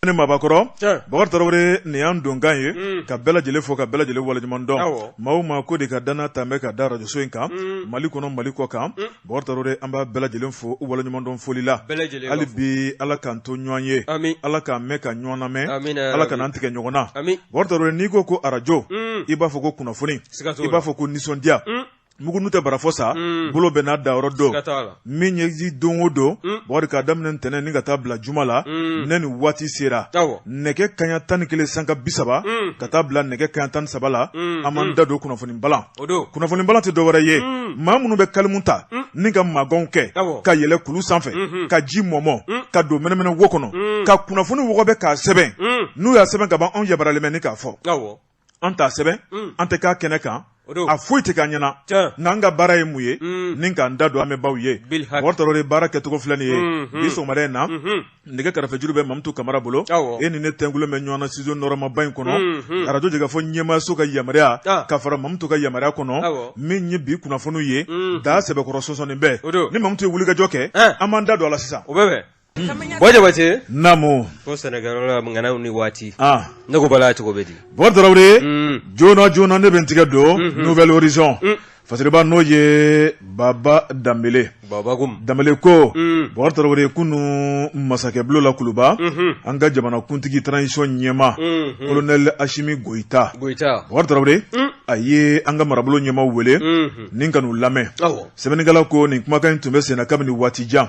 ne mabɔkɔrɔ bakari tarawele nin y'an donkan ye ka bɛɛ lajɛlen fo ka bɛɛ lajɛlen waleɲuman dɔn maa o maa ko de ka danna ta bɛ ka da arajoso in kan mali kɔnɔ mali kɔ kan bakari tarawele an b'a bɛɛ lajɛlen fo waleɲumandɔn foli la hali bi ala k'an to ɲɔgɔn ye ala k'an mɛn ka ɲɔgɔn lamɛn ala kana an tigɛ ɲɔgɔn na bakari tarawele n'i ko ko arajo i b'a fɔ ko kunnafoni i b'a fɔ ko nisɔndiya mugunu tɛ barafɔ sa mm. bolo bɛɛ n'a dayɔrɔ don min ye ji don o don mm. bakari k'a daminɛ ntɛnɛn ni ka taa bila juma la mm. ne ni waati sera nɛgɛ kaɲa tan ni kelen sanga bi saba ka taa bila nɛgɛ kaɲa tan ni saba la an b'an da don kunnafoni balan kunnafoni balan tɛ dɔwɛrɛ ye maa minnu bɛ kalimu ta ni ka maganw kɛ ka yɛlɛ kulu sanfɛ mm-hmm. ka ji mɔmɔ ka don mɛnɛmɛnɛ wo kɔnɔ ka kunnafoni wɔgɔbɛ k'a sɛbɛn n'u y'a sɛbɛn ka ban anw yabaralen bɛ ni k'a fɔ an t'a sɛbɛn mm. an tɛ k'a kɛnɛ kan a foyi tɛ k'an ɲɛ na nka an ka baara ye mun ye mm. ni k'an da don an bɛ baw ye wɔtɔrɔ de baara kɛcogo filɛ nin ye mm-hmm. bi sɔgɔmada in na mm-hmm. nɛgɛ karafejuru bɛ mamutu kamara bolo e ni ne tɛnkulu bɛ ɲɔgɔn na studio nɔrɔmaba in kɔnɔ mm-hmm. arajo jɛkafɔ ɲɛmaaso ka yamaruya ka fara mamutu ka yamaruya kɔnɔ min ye bi kunnafoniw ye da sɛbɛkɔrɔ sɔsɔnin bɛ e ni mamutu ye wulikajɔ kɛ eh. an b'an da don a la sisan Gwajabace? Namu. Ko sɛnɛkɛla ŋanaw ni waati. Ah. Ne ko balan cogo bɛ di. Bakari Tarawele. Mm. Joona joona ne bɛ n tɛgɛ don. Mm-hmm. Nouvel Horizon. Mm. Fasiriba n'o ye Baba Danbele. Baba ko. Danbele ko. Mm. Bakari Tarawele kunu masakɛ bulon la kuluba. Mm-hmm. An ka jamana kuntigi transition ɲɛmaa. Mm-hmm. Colonel Ashimi Goyita. Goyita. Bakari Tarawele. Mm. a ye an ka marabolo ɲɛmaaw wele ni ka n'u lamɛn sɛbɛnnikɛla ko nin kumakan in tun bɛ senna kabini waati jan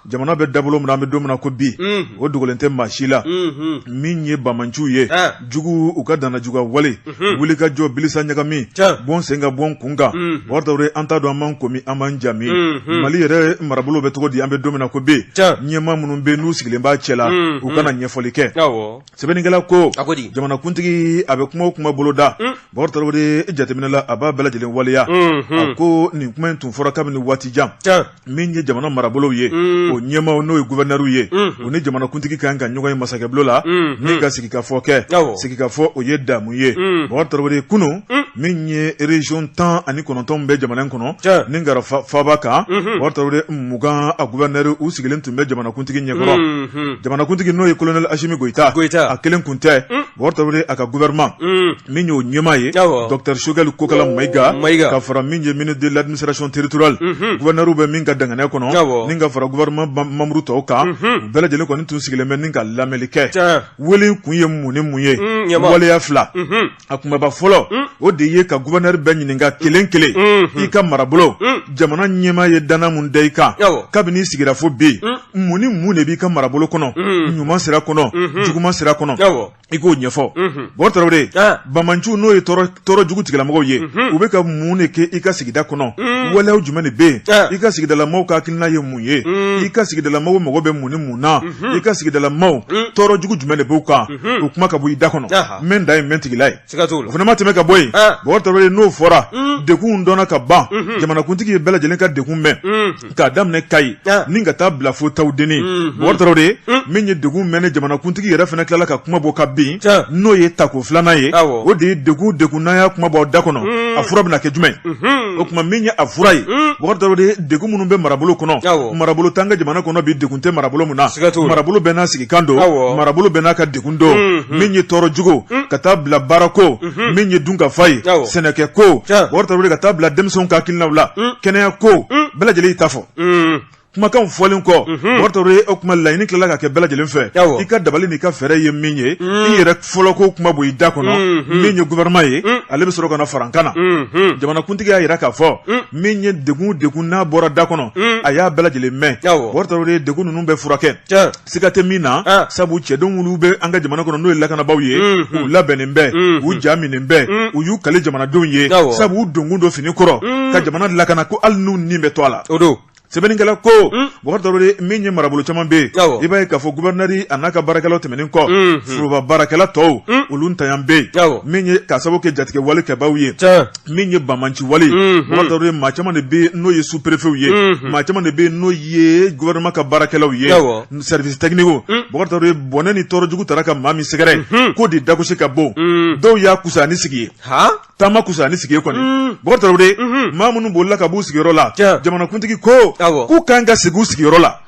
Jamana bɛ da bolo min na an bɛ don min na ko bi, unhun, o dogolen tɛ maa si la, unhun, min ye banbaanciw ye, an, jugu u ka dannajuguya wale, unhun, wulikajɔ bilisa ɲagami, tiɲɛ, bɔ n sen kan bɔ n kun kan, unhun, Bakari Tarawele an t'a dɔn an b'an ko min an b'an ja min, unhun, Mali yɛrɛ marabolo bɛ cogo di an bɛ don min na ko bi, tiɲɛ, ɲɛmaa minnu bɛ yen n'u sigilen b'a cɛla, unhun, u ka na ɲɛfɔli kɛ, awɔ sɛbɛnnikɛla ko a ko di jamanakuntigi a bɛ kuma o kuma boloda mm. bakari tarawele jateminɛ la a b'a bɛɛ lajɛlen waleya mm-hmm. a ko nin kuma in tun fɔra kabini waati jan min ye jamana marabolow ye mm. o ɲɛmaw n'o ye guvɛnɛriw ye mm-hmm. u ni jamanakuntigi ka kan ka ɲɔgɔn ye masakɛbulon la mm-hmm. ni ka sigikafɔ kɛ sigikafɔ o ye damu ye mm. bakari tarawele kunun min ye region tan ani kɔnɔntɔn bɛ jamana in kɔnɔ ni ka fara faaba kan bakari tarawele mugan a guvɛnɛri u sigilen tun bɛ jamanakuntigi ɲɛkɔrɔ jamanakuntigi n'o ye kolonɛli asimi goyita a kelen kun tɛ bakari tarawele a ka gouvernement min y'o ɲɛmaa ye docteur shogɛli kokala mayiga ka fara min ye ministre de l'administration territoriale guvɛnɛriw bɛ min ka dankɛnɛ kɔnɔ ni ka fara gouvernement manburu tɔw kan bɛɛ lajɛlen kɔni tun sigilen bɛ ni ka lamɛnni kɛ wele kun ye mun ni mun ye waleya fila a kumaba fɔlɔ mm. o de ye ka gubɛnɛri bɛɛ ɲininka kelen kelen mm-hmm. i ka marabolo mm. jamana ɲɛmaa ye danna mun da i kan kabini i sigira fo bi mm. mun ni mun de b'i ka marabolo kɔnɔ ɲuman sira kɔnɔ mm-hmm. juguman sira kɔnɔ i k'o ɲɛfɔ mm-hmm. Bɔkari Tarawele ah. banbanciw n'o ye tɔɔrɔ jugu tigilamɔgɔw ye u bɛ ka mun de kɛ i ka sigida kɔnɔ waleyaw jumɛn de bɛ yen ah. i ka sigidalamaw ka hakilina ye mun ye i ka sigidalamaw mago bɛ mun ni mun na i ka sigidalamaw tɔɔrɔ jugu jumɛn de b'u kan o kuma ka bɔ i da kɔnɔ mɛ da ye mɛntigila ye o fana ma tɛmɛ ka bɔ yen Bɔkari Tarawele n'o fɔra degun dɔnna ka ban jamanakuntigi ye bɛɛ lajɛlen ka degun mɛn k'a daminɛ Kayi ni ka taa bila fo Tawudeni Bɔkari Tarawele min ye degun mɛnni jamanakuntigi yɛrɛ fana tilala ka kuma bɔ ka bin n'o ye tako filanan ye o de ye de degun n'a y'a kuma bɔ da kɔnɔ a fura bɛna kɛ jumɛn o tuma min ye a fura ye degun minnu bɛ marabolo kɔnɔ marabolo t'an ka jamana kɔnɔ bi degun tɛ marabolo min na marabolo bɛɛ n'a sigikan don marabolo bɛɛ n'a ka degun don min ye tɔɔrɔ jugu ka taa bila baarako min ye dunkafa ye sɛnɛkɛko Bɔkari Tarawele ka taa bila denmisɛnw ka hakilinaw la kɛnɛyako bɛɛ lajɛlen y'i ta fɔ kumakan fɔlen kɔ o tuma laɲini tilala ka kɛ bɛɛ lajɛlen fɛ i ka dabali n'i ka fɛɛrɛ ye min ye i yɛrɛ fɔlɔ ko kuma bɔ i da kɔnɔ mm-hmm. min ye gouvernement ye mm. ale bɛ sɔrɔ ka na farankan na mm-hmm. jamanakuntigi y'a yira k'a fɔ mm. min ye degun degun n'a bɔra da kɔnɔ mm. a y'a bɛɛ lajɛlen mɛn Bɔkari Tarawele degun ninnu bɛ furakɛ siga tɛ min na ah. sabu cɛdenw minnu bɛ an ka jamana kɔnɔ n'o ye lakanabaaw ye mm-hmm. u labɛnnen bɛ u ja minnen bɛ u y'u kale jamanadenw ye sabu u donkun don fini kɔrɔ ka jamana lakana ko hali n'u ni bɛ to a la sɛbɛnnikɛla ko hmm. bɔkari tarawele min ye marabolo caman bɛ yen i b'a ye k'a fɔ gubɛrinɛri a n'a ka baarakɛlaw tɛmɛnen kɔ hmm, hmm. foroba baarakɛla tɔw olu ntanya bɛ yen min ye k'a sababu kɛ jatigɛwale kɛbaaw ye min ye banbanci wale bɔkari tarawele maa caman de bɛ n'o ye superefew ye maa caman de bɛ n'o ye gubɛrinɛma ka baarakɛlaw ye sɛrivisi tɛkinikiw bɔkari tarawele bɔnɛ ni tɔɔrɔ jugu tara ka maa min sɛgɛrɛ k'o de dagosi ka bon dɔw y'a kusa ni sigi ye taama kusa ni sigi ye kɔni Bɔkari tarawele maa minnu bolila ka b'u sigiyɔrɔ la jamanakuntigi ko k'u kan ka segin u sigiyɔrɔ la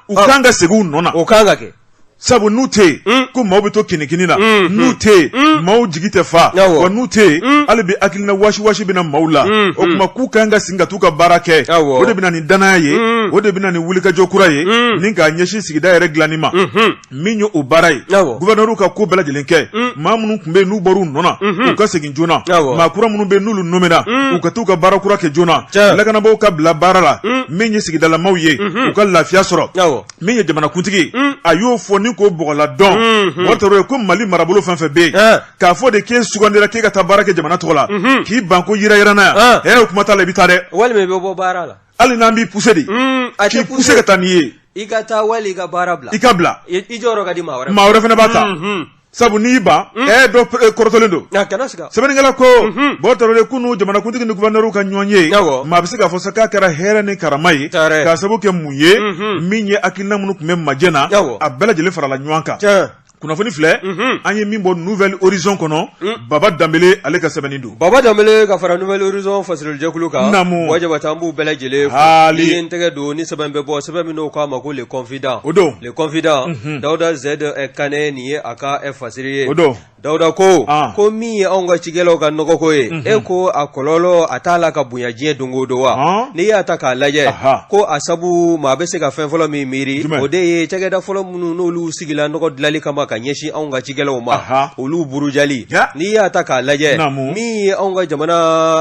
u kan ka segin u nɔ na o kan ka kɛ sabu n'u tɛ yen mm. ko maaw bɛ to kinikini na mm. n'u mm. tɛ yen maaw jigi tɛ fa wa n'u tɛ yen hali bi hakilina wasiwasi bɛ na maaw la o tuma k'u kan ka segin ka t'u ka baara kɛ o de bɛ na ni danaya ye o de bɛ na ni wulikajɔ kura ye ni k'a ɲɛsin sigida yɛrɛ dilanni ma mm-hmm. min ye o baara ye gubɛnɛriw ka ko bɛɛ lajɛlen kɛ mm. maa minnu tun bɛ yen n'u bɔra u nɔ na mm-hmm. u ka segin joona maa kura minnu bɛ yen n'olu nɔmena mm. u ka t'u ka baara kura kɛ joona lakanabaaw ka bila baara la mm. min ye sigidalamaw ye mm-hmm. u ka lafiya sɔrɔ min ye jamanakuntigi a y'o fɔ ni k'o bɔgɔla dɔn o mm-hmm. kɔrɔ ye ko mali marabolo fɛn fɛn bɛ yen eh. k'a fɔ de k'e sugandira k'e ka taa baara kɛ jamana tɔgɔ la k'i ban ko yirayirana yan hɛrɛ kuma t'a la i bɛ taa dɛ walima i bɛ bɔ baara la hali n'an b'i puse de mm, k'i puse ka taa n'i ye i ka taa wali i ka baara bila i ka bila i jɔyɔrɔ ka di maa wɛrɛ maa wɛrɛ fana b'a ta mm, mm. sabu n'i ban mm. ɛ dɔ eh, kɔrɔtɔlen don sɛbɛnnikɛla ko mm-hmm. bɔ tɔrɔ de kunu jamanakuntigi ni guvɛrnɛriw ka ɲɔgɔnye maa bɛ se k'a fɔ sa k'a kɛra hɛrɛ ni karama ye k'a sabu kɛ mun ye mm-hmm. min ye hakilina minnu tun bɛ majɛ na a bɛɛ lajɛlen farala ɲɔgɔn kan kunnafoni filɛ an ye min bɔ nouvelle horizon kɔnɔ baba danbele ale ka sɛbɛnni don baba danbele ka fara nouvelle horizon fasirijɛkulu kan naamu wajabata an b'u bɛɛ lajɛlen fo haali ni tɛgɛ don ni sɛbɛn bɛ bɔ sɛbɛn min n'o k'a ma ko le confident o don le confident dawuda zɛd kane nin ye a ka fasiri ye o don dawuda ko ko min ye anw ka cikɛlaw ka nɔgɔko ye e ko a kɔlɔlɔ a t'a la ka bonya diɲɛ don o don wa n'i y'a ta k'a lajɛ ko a sabu maa bɛ se ka fɛn fɔlɔ min miiri o de ye cakɛda fɔlɔ minnu n'olu sigila nɔgɔ dilanli kama ka ɲɛsin anw ka cikɛlaw ma Aha. olu burujali Ja. n'i y'a ta k'a lajɛ Naamu. min ye anw ka jamana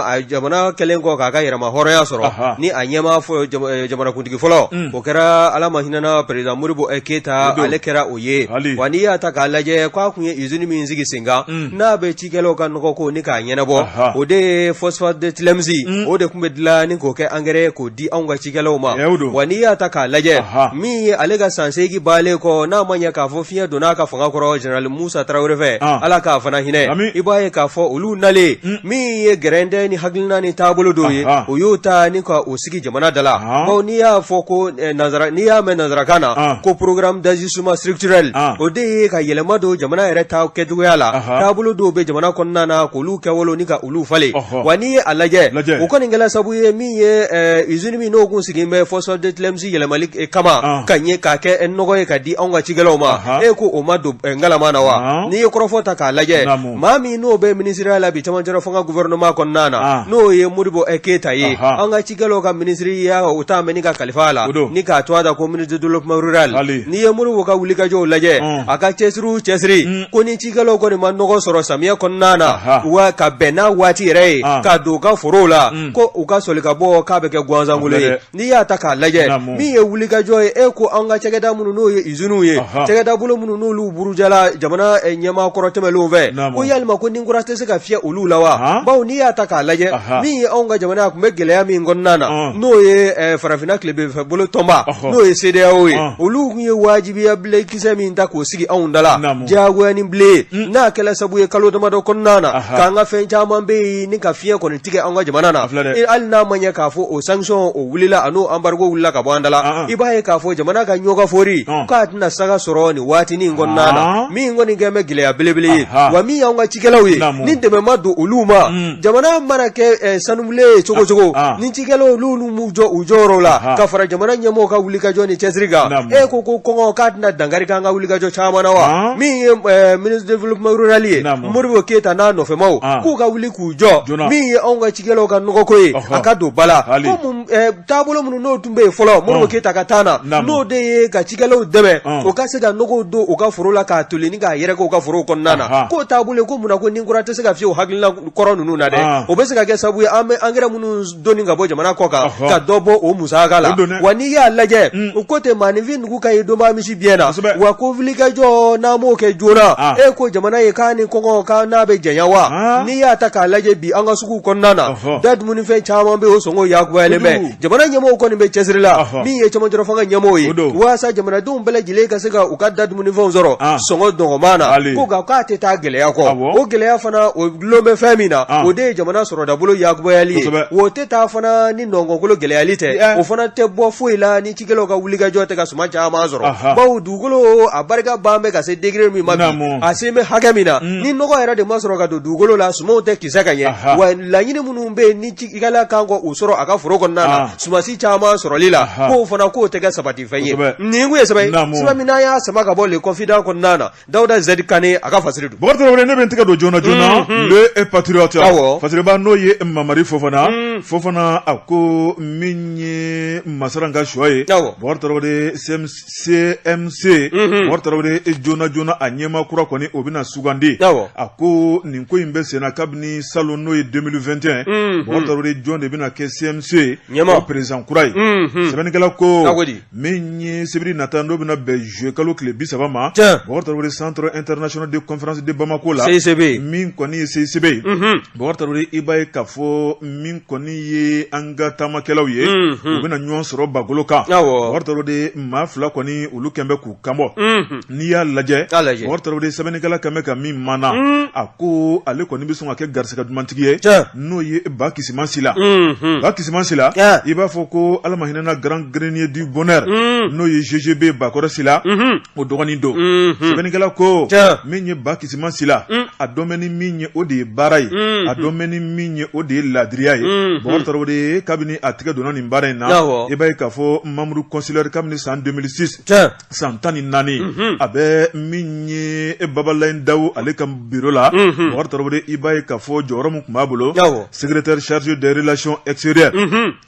a jamana kɛlen kɔ k'a ka yɛrɛma hɔrɔnya sɔrɔ Aha. ni a ɲɛmaa fɔ jama- eh, jamanakuntigi fɔlɔ Mm. o kɛra ala ma hinɛna perezidan modibo eh, keyita O don. ale kɛra o ye Hali. wa n'i y'a ta k'a lajɛ k'a kun ye izini min sigi sen kan Mm. n'a bɛ cikɛlaw ka nɔgɔ ko ni k'a ɲɛnabɔ, anhan, o de ye phosphate de Tilemsi, un, o de tun bɛ dilan ni k'o kɛ angɛrɛ ye k'o di anw ka cikɛlaw ma, tiɲɛ don, wa n'i y'a ta k'a lajɛ, anhan, min ye ale ka san seegin bannen kɔ n'a ma ɲɛ k'a fɔ fiɲɛ donna a ka fanga kɔrɔ Général Musa Tarawele fɛ, an, Ala k'a fana hinɛ, amin, i b'a ye k'a fɔ olu nalen, un, min ye gɛrɛntɛ ni hakilina ni taabolo dɔw ye, anhan, o y'o ta ni ka o sigi jamana da la bawo n'i y'a fɔ ko eh, nanzara n'i y'a mɛn nanzarakan na ko programme d'ajustement structurel o de ye ka yɛlɛma don jamana yɛrɛ ta kɛcogoya la taabolo dɔw bɛ jamana kɔnɔna na k'olu kɛwolo ni ka olu falen wa n'i ye a lajɛ o kɔni kɛla sabu ye min ye eh, usine min n'o kun sigilen bɛ phosphate de tilemsi yɛlɛmali eh, kama ka ɲɛ k'a kɛ nɔgɔ ye ka di anw ka cikɛlaw ma e ko o ma don ngalama na wa n'i ye kɔrɔfɔ ta k'a lajɛ maa min n'o bɛ minisiriya la bi cɛmancɛla fanga gouvernement kɔnɔna na, an, n'o ye Modibo Keyita ye, anhan, an ka cikɛlaw ka minisiriya o talen bɛ ni ka kalifa a la, o don, ni k'a tɔgɔ da ko ministre de développement rural, hali, n'i ye Modibo ka wulikajɔw lajɛ, un, a ka cɛsiri o cɛsiri, un, ko ni cikɛlaw kɔni ma nɔgɔ sɔrɔ samiyɛ kɔnɔna na, aha, wa ka bɛn n'a waati yɛrɛ ye, an, ka don u ka forow la, un, ko u ka soli ka bɔ k'a bɛ kɛ gansankolo ye. N'i y'a ta k'a lajɛ min ye wulikajɔ ye e ko an ka cakɛda minnu n'o ye iziniw ye cakɛda bolo minnu n'olu burujala jamana ɲɛmaa kɔrɔ tɛmɛnenw fɛ ko yali ko ni kura tɛ se ka fiyɛ olu la wa bawo n'i y'a ta k'a lajɛ min ye anw ka jamana tun bɛ gɛlɛya min kɔnɔna na n'o ye farafinna tilebinfɛ bolo tɔnba n'o ye CEDEAO ye olu tun ye wajibiya bilen kisɛ min ta k'o sigi anw da la diyagoya ni bilen n'a kɛla sabu ye kalo damadɔ kɔnɔna na k'an ka fɛn caman bɛ yen ni ka fiɲɛyɛn kɔni tigɛ an ka jamana na hali n'a ma ɲɛ k'a fɔ o sanction o wulila a n'o embargo wulila ka bɔ an da la i b'a ye k'a fɔ jamana ka ɲɔgɔnka fɔri k'a tɛna saga sɔrɔ nin waati in kɔnɔna na min kɔni kɛlen bɛ gɛlɛya belebele ye wa min y'an ka cikɛlaw ye ni dɛmɛ ma don olu ma mm. jamana mana kɛ sanubilen ye cogo cogo ni cikɛlaw olu m'u jɔ u jɔyɔrɔ la ka fara jamana ɲɛmɔgɔw ka wulikajɔ ni cɛsiri kan e ko ko kɔngɔ k'a tɛna dankari an ka wulikajɔ caman na wa min ye ministre de développement rural ye Modibo Keyita n'a nɔfɛmaw k'u ka wuli jɔ joona min ye anw ka cikɛlaw ka nɔgɔko ye a ka don ba la ko taabolo minnu n'o tun bɛ yen fɔlɔ Modibo Keyita ka temps na n'o de ye ka cikɛlaw dɛmɛ o ka se ka nɔgɔw don u ka foro la k'a toli ni k'a yɛrɛkɛ u ka forow kɔnɔna na k'o taabolo ko munna ko ni kura tɛ se ka fiyɛ o hakilina kɔrɔ ninnu na dɛ o bɛ se ka kɛ sabu ye an bɛ engrais minnu doni ka bɔ jamana kɔkan ka dɔ bɔ o musaka la wa n'i y'a lajɛ mm. u ko tɛ maaninfin nugu ka ye donba misi biyɛn na wa ko wulikajɔ n'an m'o kɛ joona ah. e ko jamana ye k'a ni kɔngɔ ka n'a bɛ janya wa ah. n'i y'a ta k'a lajɛ bi an ka suguw kɔnɔna na da dumunifɛn caman bɛ o sɔngɔ yakubayalen bɛ jamana ɲɛmɔgɔw kɔni bɛ cɛsiri la min ye cɛmancɛfanga ɲɛmɔgɔw ye walasa jamanadenw bɛɛ lajɛlen ka se ka u ka da dumunifɛnw sɔrɔ ah. sɔngɔ dɔgɔman na ko nka k'a tɛ taa gɛlɛya kɔ o gɛlɛya fana dulonnen bɛ fɛn min na o de ye jamana sɔrɔ dabolo yakubayali o tɛ taa fana ni nɔnkɔnkolo gɛlɛyali tɛ o fana tɛ bɔ foyi la ni cikɛlaw ka wulikajɔ tɛ ka suman caman sɔrɔ bawo dugukolo a barika bannen bɛ ka se degré min ma bi a selen bɛ hakɛ min na ni nɔgɔ yɛrɛ de ma sɔrɔ ka don dugukolo la sumanw tɛ kisɛ ka ɲɛ wa laɲini minnu bɛ ni cikɛla ka kan k'u sɔrɔ a ka foro kɔnɔna na sumansi caman sɔrɔli la k'o fana k'o tɛ kɛ sabati fɛn ye nin ye saba min y'a sama ka bɔ Le Confident kɔnɔna na dawuda Z Kane a ka fasiri don bɔkari tarawele ne bɛ tɛgɛ don joona joona Le Patriote fasiriba n'o ye mamari fofana fofana a ko min ye masaren ka choix ye bɔkari tarawele CMC bɔkari tarawele joona joona a ɲɛmaa kura kɔni o bɛna sugandi a ko nin ko in bɛ senna kabini salon n'o ye deux mille vingt et un bɔkari tarawele jɔn de bɛna kɛ CMC président kura ye sɛbɛnnikɛla ko min ye sibiri nata n'o bɛna bɛn juillet kalo tile bi saba ma Bɔkari Tarawele centre international de conférence de Bamako la CICB min kɔni ye CICB ye Bɔkari Tarawele i b'a ye k'a fɔ min kɔni ye an ka taamakɛlaw ye u bɛna ɲɔgɔn sɔrɔ bagolo kan Bɔkari Tarawele maa fila kɔni olu kɛlen bɛ k'u kan bɔ n'i y'a lajɛ bɔkari tarawele sɛbɛnnikɛla ka mɛn ka min mana a ko ale kɔni bɛ sɔn ka kɛ garisɛgɛ dumantigi ye n'o ye bakisima sila bakisima sila i b'a fɔ ko ala ma hinɛ a na Grand Grenier du Bonheur n'o ye GGB bakɔrɔ sila o dɔgɔnin don sɛbɛnnikɛla ko min ye bakisima sila a dɔnnen bɛ ni min ye o de ye baara ye a dɔnnen bɛ ni min ye o de ye laadiriya ye bɔkari tarawele kabini a tɛgɛ donna nin baara in na i b'a ye k'a fɔ membre consulaire kabini san deux mille six san tan ni naani a bɛ min ye e babalayi daw ale ka biro la bakari tarawele i b'a ye k'a fɔ jɔyɔrɔ min tun b'a bolo secrétaire chargé des relations extérieures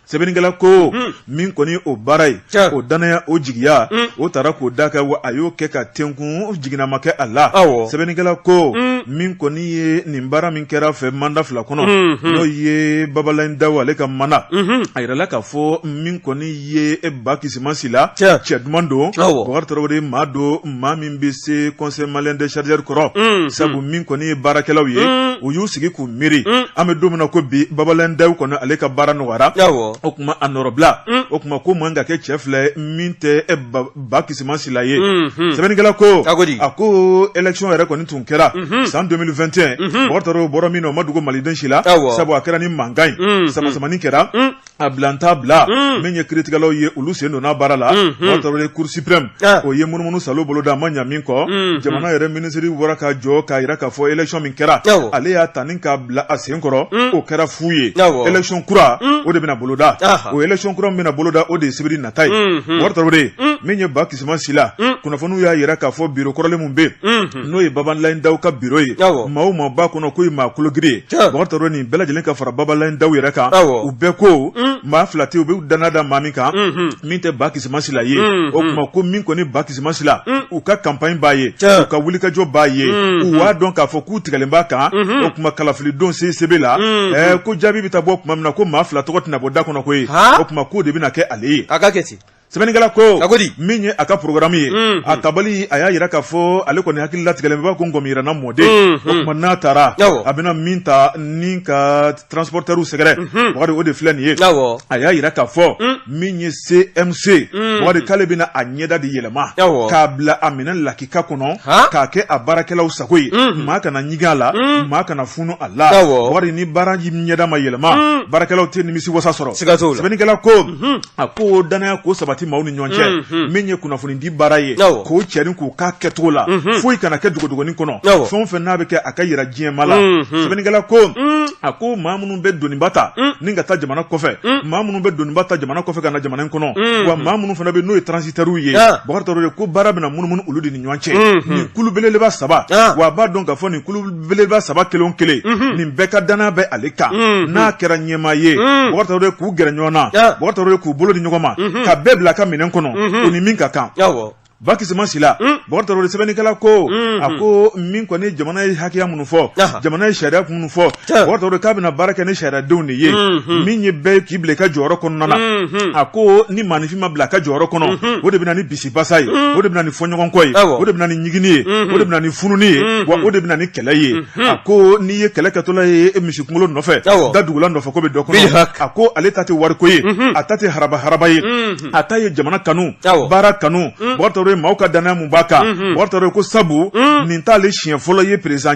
sɛbɛnnikɛla ko min kɔni o baara ye o dannaya o jigiya o taara k'o da a kan wa a y'o kɛ ka tenkun jigin a ma kɛ a la sɛbɛnnikɛla ko min kɔni ye nin baara min kɛra fɛ manda fila kɔnɔ n'o ye babalayi daw ale ka manda a yirala k'a fɔ min kɔni ye e bakisima sila cɛ duman don bakari tarawele maa don maa min bɛ se conseil malien des chargeurs kɔrɔ sabu min kɔni ye baarakɛlaw ye u y'u sigi k'u miiri an bɛ don min na ko bi babalayi daw kɔnɔ ale ka baara nɔgɔyara o tuma a nɔrɔbila o tuma ko man ka kɛ cɛ fila min tɛ bakisima sila ye sɛbɛnnikɛla ko a ko élection yɛrɛ kɔni tun kɛra san deux mille vingt et un bɔra min o ma dogo maliden si la sabu a kɛra ni mankan ye samasamani kɛra A bila n t'a bila min ye kiritigɛlaw ye olu sen donna baara la bakari tarawele cour suprême o ye munumunu saalo boloda a ma ɲa min kɔ jamana yɛrɛ minisiri wara ka jɔ k'a jira k'a fɔ élection min kɛra ale y'a ta ni k'a bila a sen kɔrɔ o kɛra fu ye élection kura o de bɛna boloda o élection kura min bɛna boloda o de ye sibiri nata ye bakari tarawele min ye bakisima sila kunnafoniw y'a jira k'a fɔ biro kɔrɔlen min bɛ n'o ye babalayi daw ka biro ye maa o maa b'a kɔnɔ ko maa kologirin bakari tarawele nin bɛɛ lajɛlen ka fara babalayi daw yɛrɛ kan u bɛɛ ko mm. maa fila tɛ u bɛ dannaya da maa min kan mm-hmm. min tɛ bakisima sila ye mm-hmm. o tuma ko min kɔni bakisima sila mm. u ka campagne b'a ye u ka wulikajɔ b'a ye mm-hmm. u b'a dɔn k'a fɔ k'u tigɛlen b'a kan o tuma kalafilidon CICB la ko jaabi bɛ taa bɔ tuma min na ko maa fila tɔgɔ tɛna bɔ da kɔnɔ ko ye o tuma k'o de bɛna kɛ ale ye sɛbɛnnikɛla ko min ye a ka porogaramu ye a tabali a y'a jira k'a fɔ ale kɔni hakili latigɛlen b'a ko ŋɔmi yiranna mɔ de o tuma n'a taara a bɛna min ta ni ka transportɛriw sɛgɛrɛ bakari o de filɛ nin ye a y'a jira k'a fɔ min ye CMC bakari k'ale bɛna a ɲɛda de yɛlɛma k'a bila a minɛn lakika kɔnɔ k'a kɛ a baarakɛlaw sago ye maa kana ɲigin a la maa kana funu a la bakari ni baara in ɲɛda ma yɛlɛma baarakɛlaw tɛ nimisiwasa sɔrɔ sɛbɛnnikɛla ko a ko dannaya k'o sabati maaw ni ɲɔgɔn cɛ mhm. min ye kunnafoni di baara ye k'o cɛrin k'u ka kɛcogo la mhm. foyi kana kɛ dogodogonin kɔnɔ fɛn o fɛn n'a bɛ kɛ a ka yira diɲɛ maa la mhm. sɛbɛnnikɛla ko mm. a ko maa minnu bɛ doniba ta mm. ni ka taa jamana kɔfɛ mm. maa minnu bɛ doniba ta jamana kɔfɛ ka na jamana in kɔnɔ wa maa minnu fana bɛ n'o ye transitɛriw ye bakari tarawele ko baara bɛna munumunu olu de ni ɲɔgɔn cɛ nin kulu beleba saba wa a b'a dɔn k'a fɔ nin belebeleba saba kelen kelen nin bɛɛ ka dannaya bɛ ale kan n'a kɛra ɲɛmaa ye de k'u gɛrɛ ɲɔgɔn na de k'u bolo di ɲɔgɔn ma ka bɛɛ bila a ka minɛn kɔnɔ u ni min ka kan bakisima sila bakari tarawele sɛbɛnnikɛla ko a ko min kɔni jamana ye hakɛya minnu fɔ jamana ye sariya minnu fɔ bakari tarawele k'a bɛna baara kɛ ni sariyadenw de ye min ye bɛɛ k'i bila i ka jɔyɔrɔ kɔnɔna na a ko ni maaninfin ma bila a ka jɔyɔrɔ kɔnɔ o de bɛna ni bi basa ye o de bɛ na ni fɔɲɔgɔnkɔ ye o de bɛ na ni ɲiginni ye o de bɛ na ni fununi ye wa o de bɛ na ni kɛlɛ ye a ko n'i ye kɛlɛ kɛtɔla ye misi kunkolo nɔfɛ da dugula nɔfɛ ko bɛ dɔ kɔnɔ a ko ale ta tɛ wariko ye a ta tɛ haraba haraba ye a ta ye jamana kanu baara kanu ye Bubakari Traore maaw ka danaya min b'a kan Bubakari Traore ko sabu nin t'ale siɲɛ fɔlɔ ye perez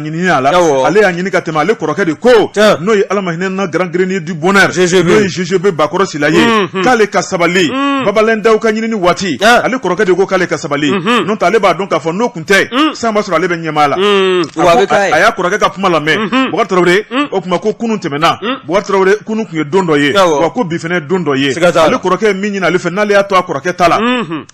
ale y'a ɲini ka tɛmɛ ale kɔrɔkɛ de ko n'o ye Ala ma hinɛ na Grand Grenier du Bonheur n'o ye GGB Bakɔrɔ Sila ye mhm. k'ale ka sabali mhm. Babalaye Dawu ka ɲinini waati ale kɔrɔkɛ de ko k'ale ka sabali mhm. n'o tɛ ale b'a dɔn k'a fɔ n'o tun tɛ san b'a sɔrɔ ale bɛ ɲɛmaa la a y'a kɔrɔkɛ ka kuma lamɛn Bubakari Traore o tuma ko kunun tɛmɛna Bubakari Traore kunun tun ye don dɔ ye wa ko bi fana don dɔ ye ale kɔrɔkɛ ye min ɲini ale fɛ n'ale y'a to a kɔrɔkɛ ta la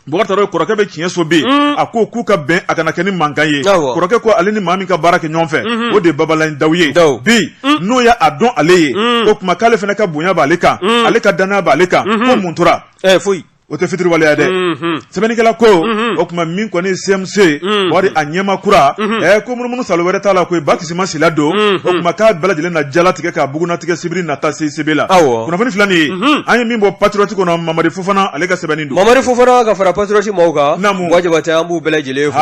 Bubakari Traore kɔrɔkɛ bɛ tiɲɛ so bi, un, a ko k'u ka bɛn a kana kɛ ni mankan ye, awɔ, kɔrɔkɛ ko ale ni maa min ka baara kɛ ɲɔgɔn fɛ, unhun, o de ye Babalaye Dawu ye, Dawu, bi, un, n'o y'a dɔn ale ye, un, o tuma k'ale fana ka bonya b'ale kan, un, ale ka danaya b'ale kan, unhun, ko mun tora, ɛɛ foyi o tɛ fitiriwaleya dɛ, unhun, sɛbɛnnikɛla ko, unhun, o tuma min kɔni ye CMC ye, unhun, wari a ɲɛmaa kura, unhun, ɛɛ ko munumunu salo wɛrɛ t'a la koyi Ba Kisima Sila don, unhun, o tuma k'a bɛɛ lajɛlen na jalatigɛ k'a bugunnatigɛ sibiri nata CICB la, awɔ, kunnafoni filɛ nin ye, unhun, an ye min bɔ Patriote kɔnɔ Mamadi Fofana ale ka sɛbɛnni Mamadi Fofana ka fara Patriote maaw kan wa Jabatɛ an b'u bɛɛ lajɛlen fo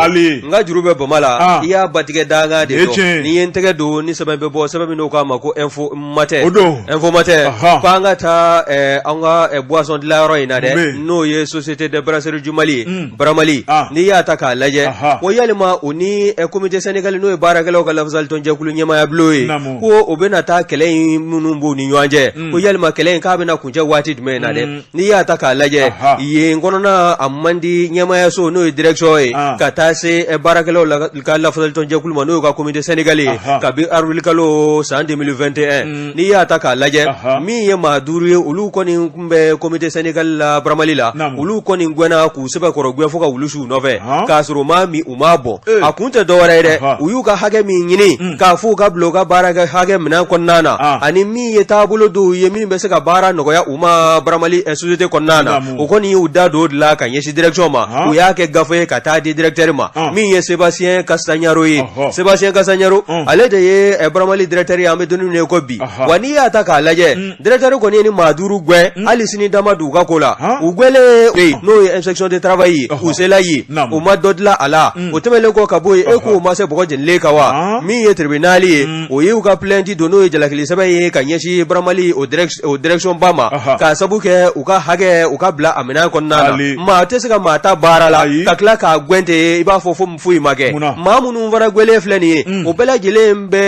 n ka juru bɛ bama la i y'a batigɛ dankan de dɔn ne ye n tɛgɛ don ni sɛbɛn bɛ bɔ sɛbɛn min n'o k'a ma ko Info Matin o don Info Matin ko an ka taa an ka boisson dilanyɔrɔ in na dɛ n'o ye société des brasseries du Mali Bramali n'i y'a ta k'a lajɛ ko yala u ni comité syndical n'o ye baarakɛlaw ka lafasalitɔnjɛkulu ɲɛmaaya bulon ye ko o bɛna taa kɛlɛ in minnu b'u ni ɲɔgɔn cɛ ko yala kɛlɛ in k'a bɛna na kuncɛ waati jumɛn in na dɛ n'i y'a ta k'a lajɛ yen kɔnɔna a man di ɲɛmaayaso n'o ye direction ye ka taa se eh, baarakɛlaw ka lafasalitɔnjɛkulu ma n'o y'u ka comité syndical ye kabi arili kalo san 2021 mm. n'i y'a ta k'a lajɛ min ye maa duuru ye olu kɔni tun bɛ comité syndical la Bramali la olu kɔni gɛnna u sɛbɛkɔrɔ gɛn fo ka wulu su u nɔfɛ k'a sɔrɔ u m'a min u m'a bɔn a kun tɛ dɔwɛrɛ ye dɛ u y'u ka hakɛ min ɲini k'a fɔ u ka bila u ka baara kɛ hakɛ minɛn kɔnɔna na ani min ye taabolo dɔw ye min bɛ se ka baara nɔgɔya u ma Bramali société kɔnɔna na u kɔni y'u da don o de la ka ɲɛsin direction ma u y'a kɛ gafe ye ka taa di directeur ma min ye Sébastien Castagnaro ye Sébastien Castagnaro ale de ye Bramali directeur ye an bɛ don min i ko bi wa n'i y'a ta k'a lajɛ Directeur kɔni ye nin maa duuru gɛn hali sini da ma don u ka ko la u gɛnlen bɛ yen n'o ye inspection de travail ye k'u sela yen o ma dɔ dilan a la o tɛmɛnlen kɔ ka bɔ yen e k'u ma se bɔgɔ jenilen kan wa min ye tribunal ye o y'u ka plainte don n'o ye jalakili sɛbɛn ye ka ɲɛsin Bramali o direction ba ma k'a sabu kɛ u ka hakɛ u ka bila a minɛn kɔnɔna na maa tɛ se ka maa ta baara la ka tila k'a gɛn ten i b'a fɔ foyi ma kɛ maa minnu fana gwɛlen filɛ nin ye o bɛɛ lajɛlen bɛ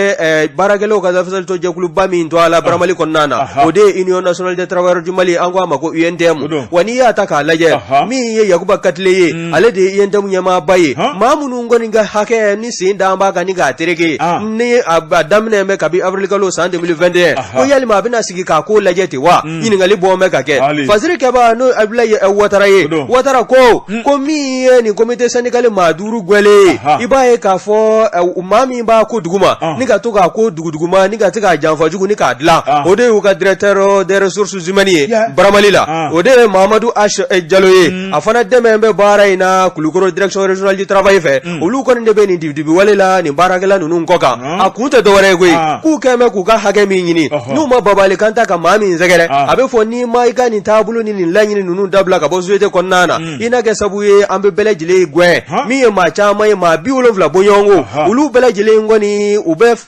baarakɛlaw ka lafasali tɔn jɛkuluba min to a la baramali kɔnɔna na o de ye union nationale des travailleurs du Mali an ko a ma ko UNTM wa n'i y'a ta k'a lajɛ min ye Yakuba Katile ye ale de ye UNTM ɲɛmaaba ye maa minnu kɔni ka hakɛ ni sen da an b'a kan ni k'a tereke ni a daminɛ bɛ kabi avril kalo san 2021 ko yalima a bɛna sigi k'a ko lajɛ ten wa ɲininkali bɔ bɛ ka kɛ fasiri kɛba n'o abulayi watara ye watara ko ko min ye nin comité syndical maa duuru gwɛlen ye i b'a ye k'a fɔ maa min b'a ko dugu ma ni ka to k'a ko dugu dugu ma ni ka se k'a janfa jugu ni k'a dilan o de y'u ka directeur des ressources humaines ye baramali la o de ye mahamadu H jalo ye a fana dɛmɛ bɛ baara in na kulukɔrɔ direction régionale du travail fɛ olu kɔni de bɛ nin dibidibi wale la nin baarakɛla ninnu kɔ kan a kun tɛ dɔwɛrɛ ye koyi k'u kɛlen bɛ k'u ka hakɛ min ɲini n'u ma babali kan ta ka maa min sɛgɛrɛ a bɛ fɔ n'i ma i ka nin taabolo ni nin laɲini ninnu dabila ka bɔ société kɔnɔna na i na kɛ sabu ye an bɛ bɛɛ lajɛlen gɛn min ye maa caman ye maa bi wolonwula bɔɲɔgɔnko olu bɛɛ lajɛlen kɔni u bɛ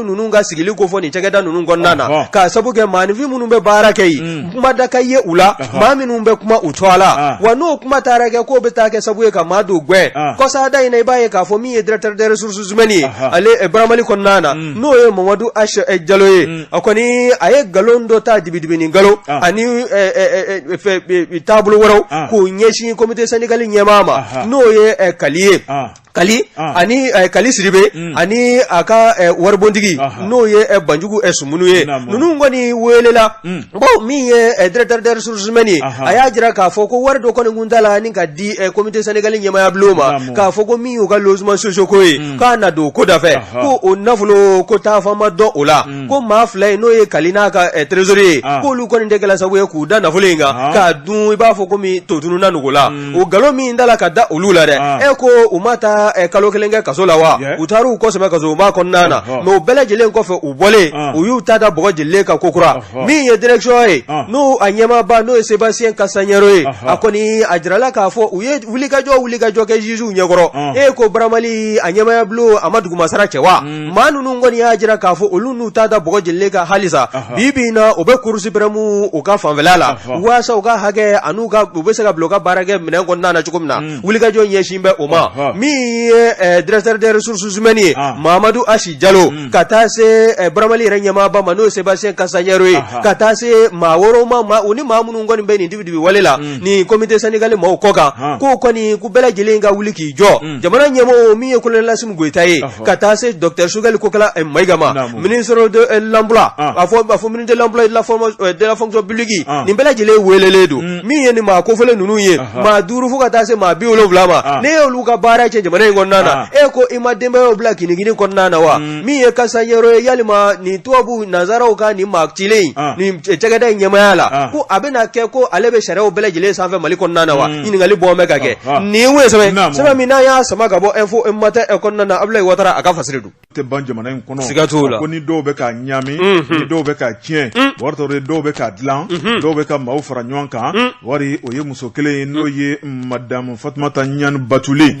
ninnu ka sigili ko fɔ nin cakɛda ninnu kɔnɔna na k'a sabu kɛ maanifin minnu bɛ baara kɛ yen mm. kuma da ka ye u la maa minnu bɛ kuma u tɔgɔ la ah. wa n'o kuma taara kɛ k'o bɛ taa kɛ sabu ye ka maa dɔw gɛn ah. kɔsada in na i b'a ye k'a fɔ min ye directeur des ressources humaines ye ale eh, baramali kɔnɔna na mm. n'o ye mamadu H jalo ye mm. a kɔni a ye nkalon dɔ ta dibidibi ni nkalon ah. ani eh, taabolo wɛrɛw k'o ɲɛsin comité syndical ɲɛmaa ma n'o ye kali ye kali ani kali siribe ani a ka waribontigi n'o ye banjugu sumunu ye ninnu kɔni welela baw min ye directeur des ressources humaines ye a y'a jira k'a fɔ ko wari dɔ kɔni kun ta la ni ka di comité syndical ɲɛmaya bulon ma k'a fɔ ko min y'u ka logements sociaux ko ye k'a na don ko dafɛ ko o nafolo ko taafan ma dɔn o la ko maa fila ye n'o ye kali n'a ka trésorier ye k'olu kɔni de kɛla sabu ye k'u da nafolo in kan k'a dun i b'a fɔ ko totunununa nugu la o nkalon min da la ka da olu la dɛ e ko u ma taa kalo kelen kɛ kaso la wa u taara u kɔ sɛmɛ kasoba kɔnɔna na mɛ u bɛɛ lajɛlen kɔfɛ u bɔlen u y'u ta da bɔgɔ jelilen kan kokura min ye direction ye n'o a ɲɛmaba n'o ye Sébastien Kasaɲɛro ye a kɔni a jirala k'a fɔ u ye wulikajɔ wulikajɔ kɛ jugew ɲɛkɔrɔ e ko baramali a ɲɛmaya bulon a ma dugumasara cɛ wa maa ninnu kɔni y'a jira k'a fɔ olu n'u ta da bɔgɔ jelilen kan halisa bi bi na u bɛ Cour suprême u ka fanfɛla la waasa u ka hakɛ ani u bɛ se ka bila u ka baara kɛ minɛn kɔnɔna na cogo min na mm. wulikajɔ ɲɛsin bɛ o ma min ye eh, directeur des ressources humaines ye ah. Mamadou H Jalo mm. ka taa se eh, Baramali yɛrɛ ɲɛmaaba ma n'o ye Sébastien Kasaɲɛro ye ka taa se maa wɛrɛw ma u ni maa minnu kɔni bɛ nin dibidibi wale la mm. nin comité syndical mɔgɔw kɔ kan k'o kɔni k'u bɛɛ lajɛlen ka wuli k'i jɔ jamana ɲɛmɔgɔ min ye kolonɛli Asimi Goyita ye ka taa se docteur Choguel Kokala Mayiga ma ministre de euh, l'emploi a fɔ a fɔ ministre de l'emploi et de la formation euh, de la fonction publique nin bɛɛ lajɛlen welelen don mm. min ye nin maa kofɔlen ninnu ye maa duuru fo ka taa se maa bi wolonwula ma n'e y'olu ka baara cɛn jamana in kɔnɔna na e ko i ma denbayaw bila kinigini kɔnɔna na wa mm. min ye kasanyɔrɔ ye yalima nin tubabu nanzaraw ka nin maa cilen in nin cakɛda in ɲɛmaaya la ko a bɛna kɛ ko ale bɛ sariyaw bɛɛ lajɛlen sanfɛ Mali kɔnɔna na wa mm. ɲininkali bɔ bɛ ka kɛ nin ye sɛbɛn min n'an y'a sama ka bɔ Info Matin kɔnɔna na Abdoulaye Ouattara a ka fasiri don tɛ ban jamana in kɔnɔ siga t'o la ko ni dɔw bɛ ka ɲami ni dɔw bɛ ka tiɲɛ Bɔkari Tarawele dɔw bɛ ka dilan dɔw bɛ ka maaw fara ɲɔgɔn kan Bɔkari o ye muso kelen ye n'o ye madamu Fatumata Ɲani Batuli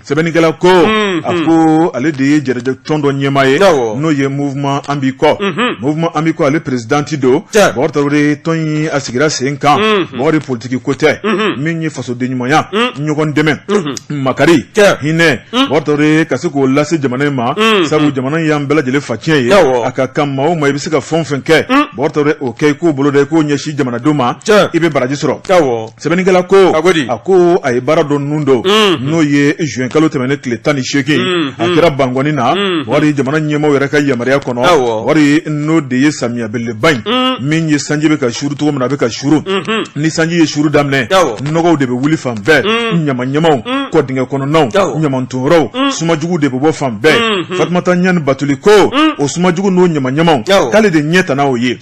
sɛbɛnnikɛla ko a ko ale de ye jɛrɛjɛ tɔn dɔ ɲɛmaa ye Awɔ. n'o ye mouvement an b'i kɔ mouvement an b'i kɔ ale présidente don Tiɲɛ. Bɔkari Tarawele tɔn in a sigira sen kan Bɔkari politiki ko tɛ min ye fasodenɲumanya ɲɔgɔn dɛmɛ makari Tiɲɛ. hinɛ Bɔkari Tarawele ka se k'o lase jamana in ma sabu jamana in y'an bɛɛ lajɛlen faciyɛn ye Awɔ. a ka kan maa o maa i bɛ se ka fɛn o fɛn kɛ Bɔkari Tarawele o kɛ i k'o bolo da i k'o ɲɛsin jamanadenw ma Tiɲɛ. i bɛ baraji sɔrɔ Awɔ. sɛbɛnnikɛla ko a ko a ye baara dɔ ninnu don n'o ye juin kalo tɛmɛnen tile tan ni seegin a kɛra Bankɔni na Bɔkari jamana ɲɛmaaw yɛrɛ ka yamaruya kɔnɔ Bɔkari n'o de ye samiya belebeleba in min ye sanji bɛ ka suru cogo min na a bɛ ka suru ni sanji ye suru daminɛ nɔgɔw de bɛ wuli fan bɛɛ ɲamaɲamaw kɔ dingɛ kɔnɔnaw ɲamanton yɔrɔw sumajugu de bɛ bɔ fan bɛɛ Fatumata Ɲani Batuli ko o sumajugu n'o ɲamaɲamaw k'ale de ɲɛ tana o ye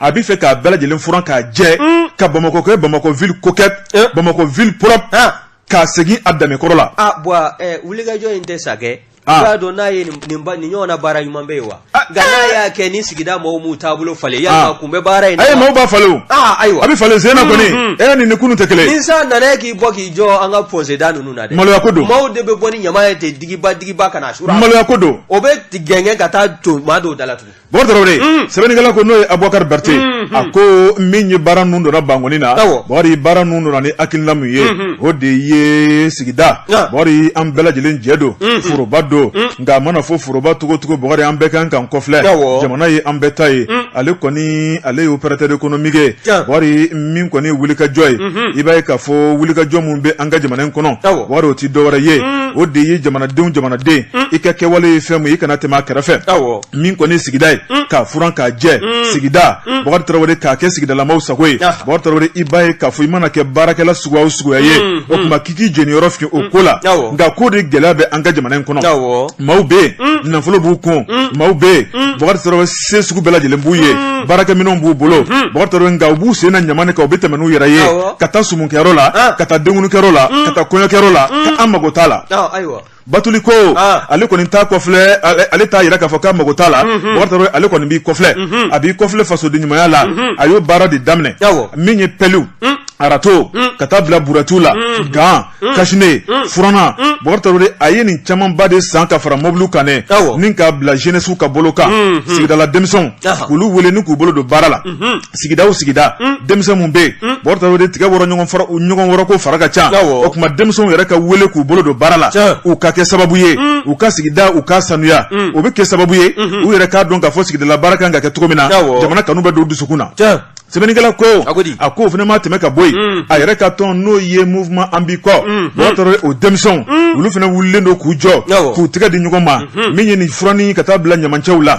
a bɛ fɛ k'a bɛɛ lajɛlen furan k'a jɛ ka bamakɔ kɛ bamakɔ ville coquette bamakɔ ville propre k'a segin a danbe kɔrɔ la. ah bɔn wulikajɔ in tɛ sa kɛ. i b'a dɔn n'a ye nin nin ɲɔgɔn na baara ɲuman bɛ yen wa. nka n'a y'a kɛ ni sigida mɔgɔw m'u taabolo falen yalima kun bɛ baara in na wa. ayi maaw b'a falen o. aa ayiwa a bɛ falen sen na kɔni bi ni kunun tɛ kelen ye. ni san nana e k'i bɔ k'i jɔ an ka pɔnseda ninnu na dɛ. maloya ko don. maaw de bɛ bɔ ni ɲama ye ten digiba digiba ka na a suru a la. maloya ko don. o bɛ gɛngɛn ka taa to maa dɔw da la tugun. Bɔkari Tarawele sɛbɛnnikɛla ko n'o ye Abubakari Berete a ko min ye baara ninnu donna Bankɔni na Bɔkari baara ninnu donna ni hakilina min ye o de ye sigida Bɔkari an bɛɛ lajɛlen jɛ don foroba don nka a mana fɔ foroba cogo o cogo Bɔkari an bɛɛ ka kan k'o filɛ jamana ye an bɛɛ ta ye ale kɔni ale ye opérateur économique ye Bɔkari min kɔni wulikajɔ ye i b'a ye k'a fɔ wulikajɔ min bɛ an ka jamana in kɔnɔ Bɔkari o tɛ dɔwɛrɛ ye o de ye jamanadenw jamanaden i ka kɛwale ye fɛn min ye i kana tɛmɛ a kɛrɛfɛ min kɔni ye sigida ye mm. k'a furan k'a jɛ mm. sigida mm. Bɔkari Tarawele k'a kɛ sigidalamaw sago ye ah. Bɔkari Tarawele i b'a ye k'a fɔ i mana kɛ baarakɛla suguya o suguya ye o tuma k'i k'i jeniyɔrɔ fin o ko la nka k'o de gɛlɛya bɛ an ka jamana in kɔnɔ maaw bɛ yen nafolo b'u kun maaw bɛ yen Bɔkari Tarawele se sugu bɛɛ lajɛlen b'u ye baarakɛminɛnw b'u bolo Bɔkari Tarawele nka u b'u sen na ɲama in kan u bɛ tɛmɛ n'u yɛrɛ ye ka taa sumunkɛyɔrɔ la ah. ka taa denkundikɛyɔrɔ la ka taa kɔɲɔkɛyɔrɔ la ko an mago t'a la ah, batuli ko ah. ale kɔni t'a kɔfilɛ ale t'a yira k'a fɔ k'a mago t'a la mhm. bakari tarawele ale kɔni b'i kɔfilɛ mhm. a b'i kɔfilɛ fasodenɲumanya la mhm. a y'o baara de daminɛ min ye pɛliw mm. arato mm. ka taa bila buratiw la mm. gan kasine furannan bakari tarawele a ye nin camanba de san ka fara mɔbiliw kan dɛ ni k'a bila jenɛsiw ka bolo kan sigidala denmisɛnw k'olu wele ni k'u bolo don baara la Sigida o sigida denmisɛn min bɛ yen Bon Traoré tigɛ ɲɔgɔn ko fara ka ca o tuma denmisɛnw yɛrɛ ka weele k'u bolo don baara la u ka kɛ sababu ye u ka sigidaw ka sanuya o bɛ kɛ sababu ye u yɛrɛ k'a dɔn k'a fɔ sigidala baara kan ka kɛ cogo min na jamana kanu bɛ don dusukun na sɛbɛnnikɛla ko a ko o fana ma tɛmɛ ka bɔ yen a yɛrɛ ka tɔn n'o ye mouvement an bi kɔ Bon Traoré o denmisɛnw olu fana wililen don k'u jɔ k'u tɛgɛ di ɲɔgɔn ma min ye nin furanni ka taa bila ɲamancɛw la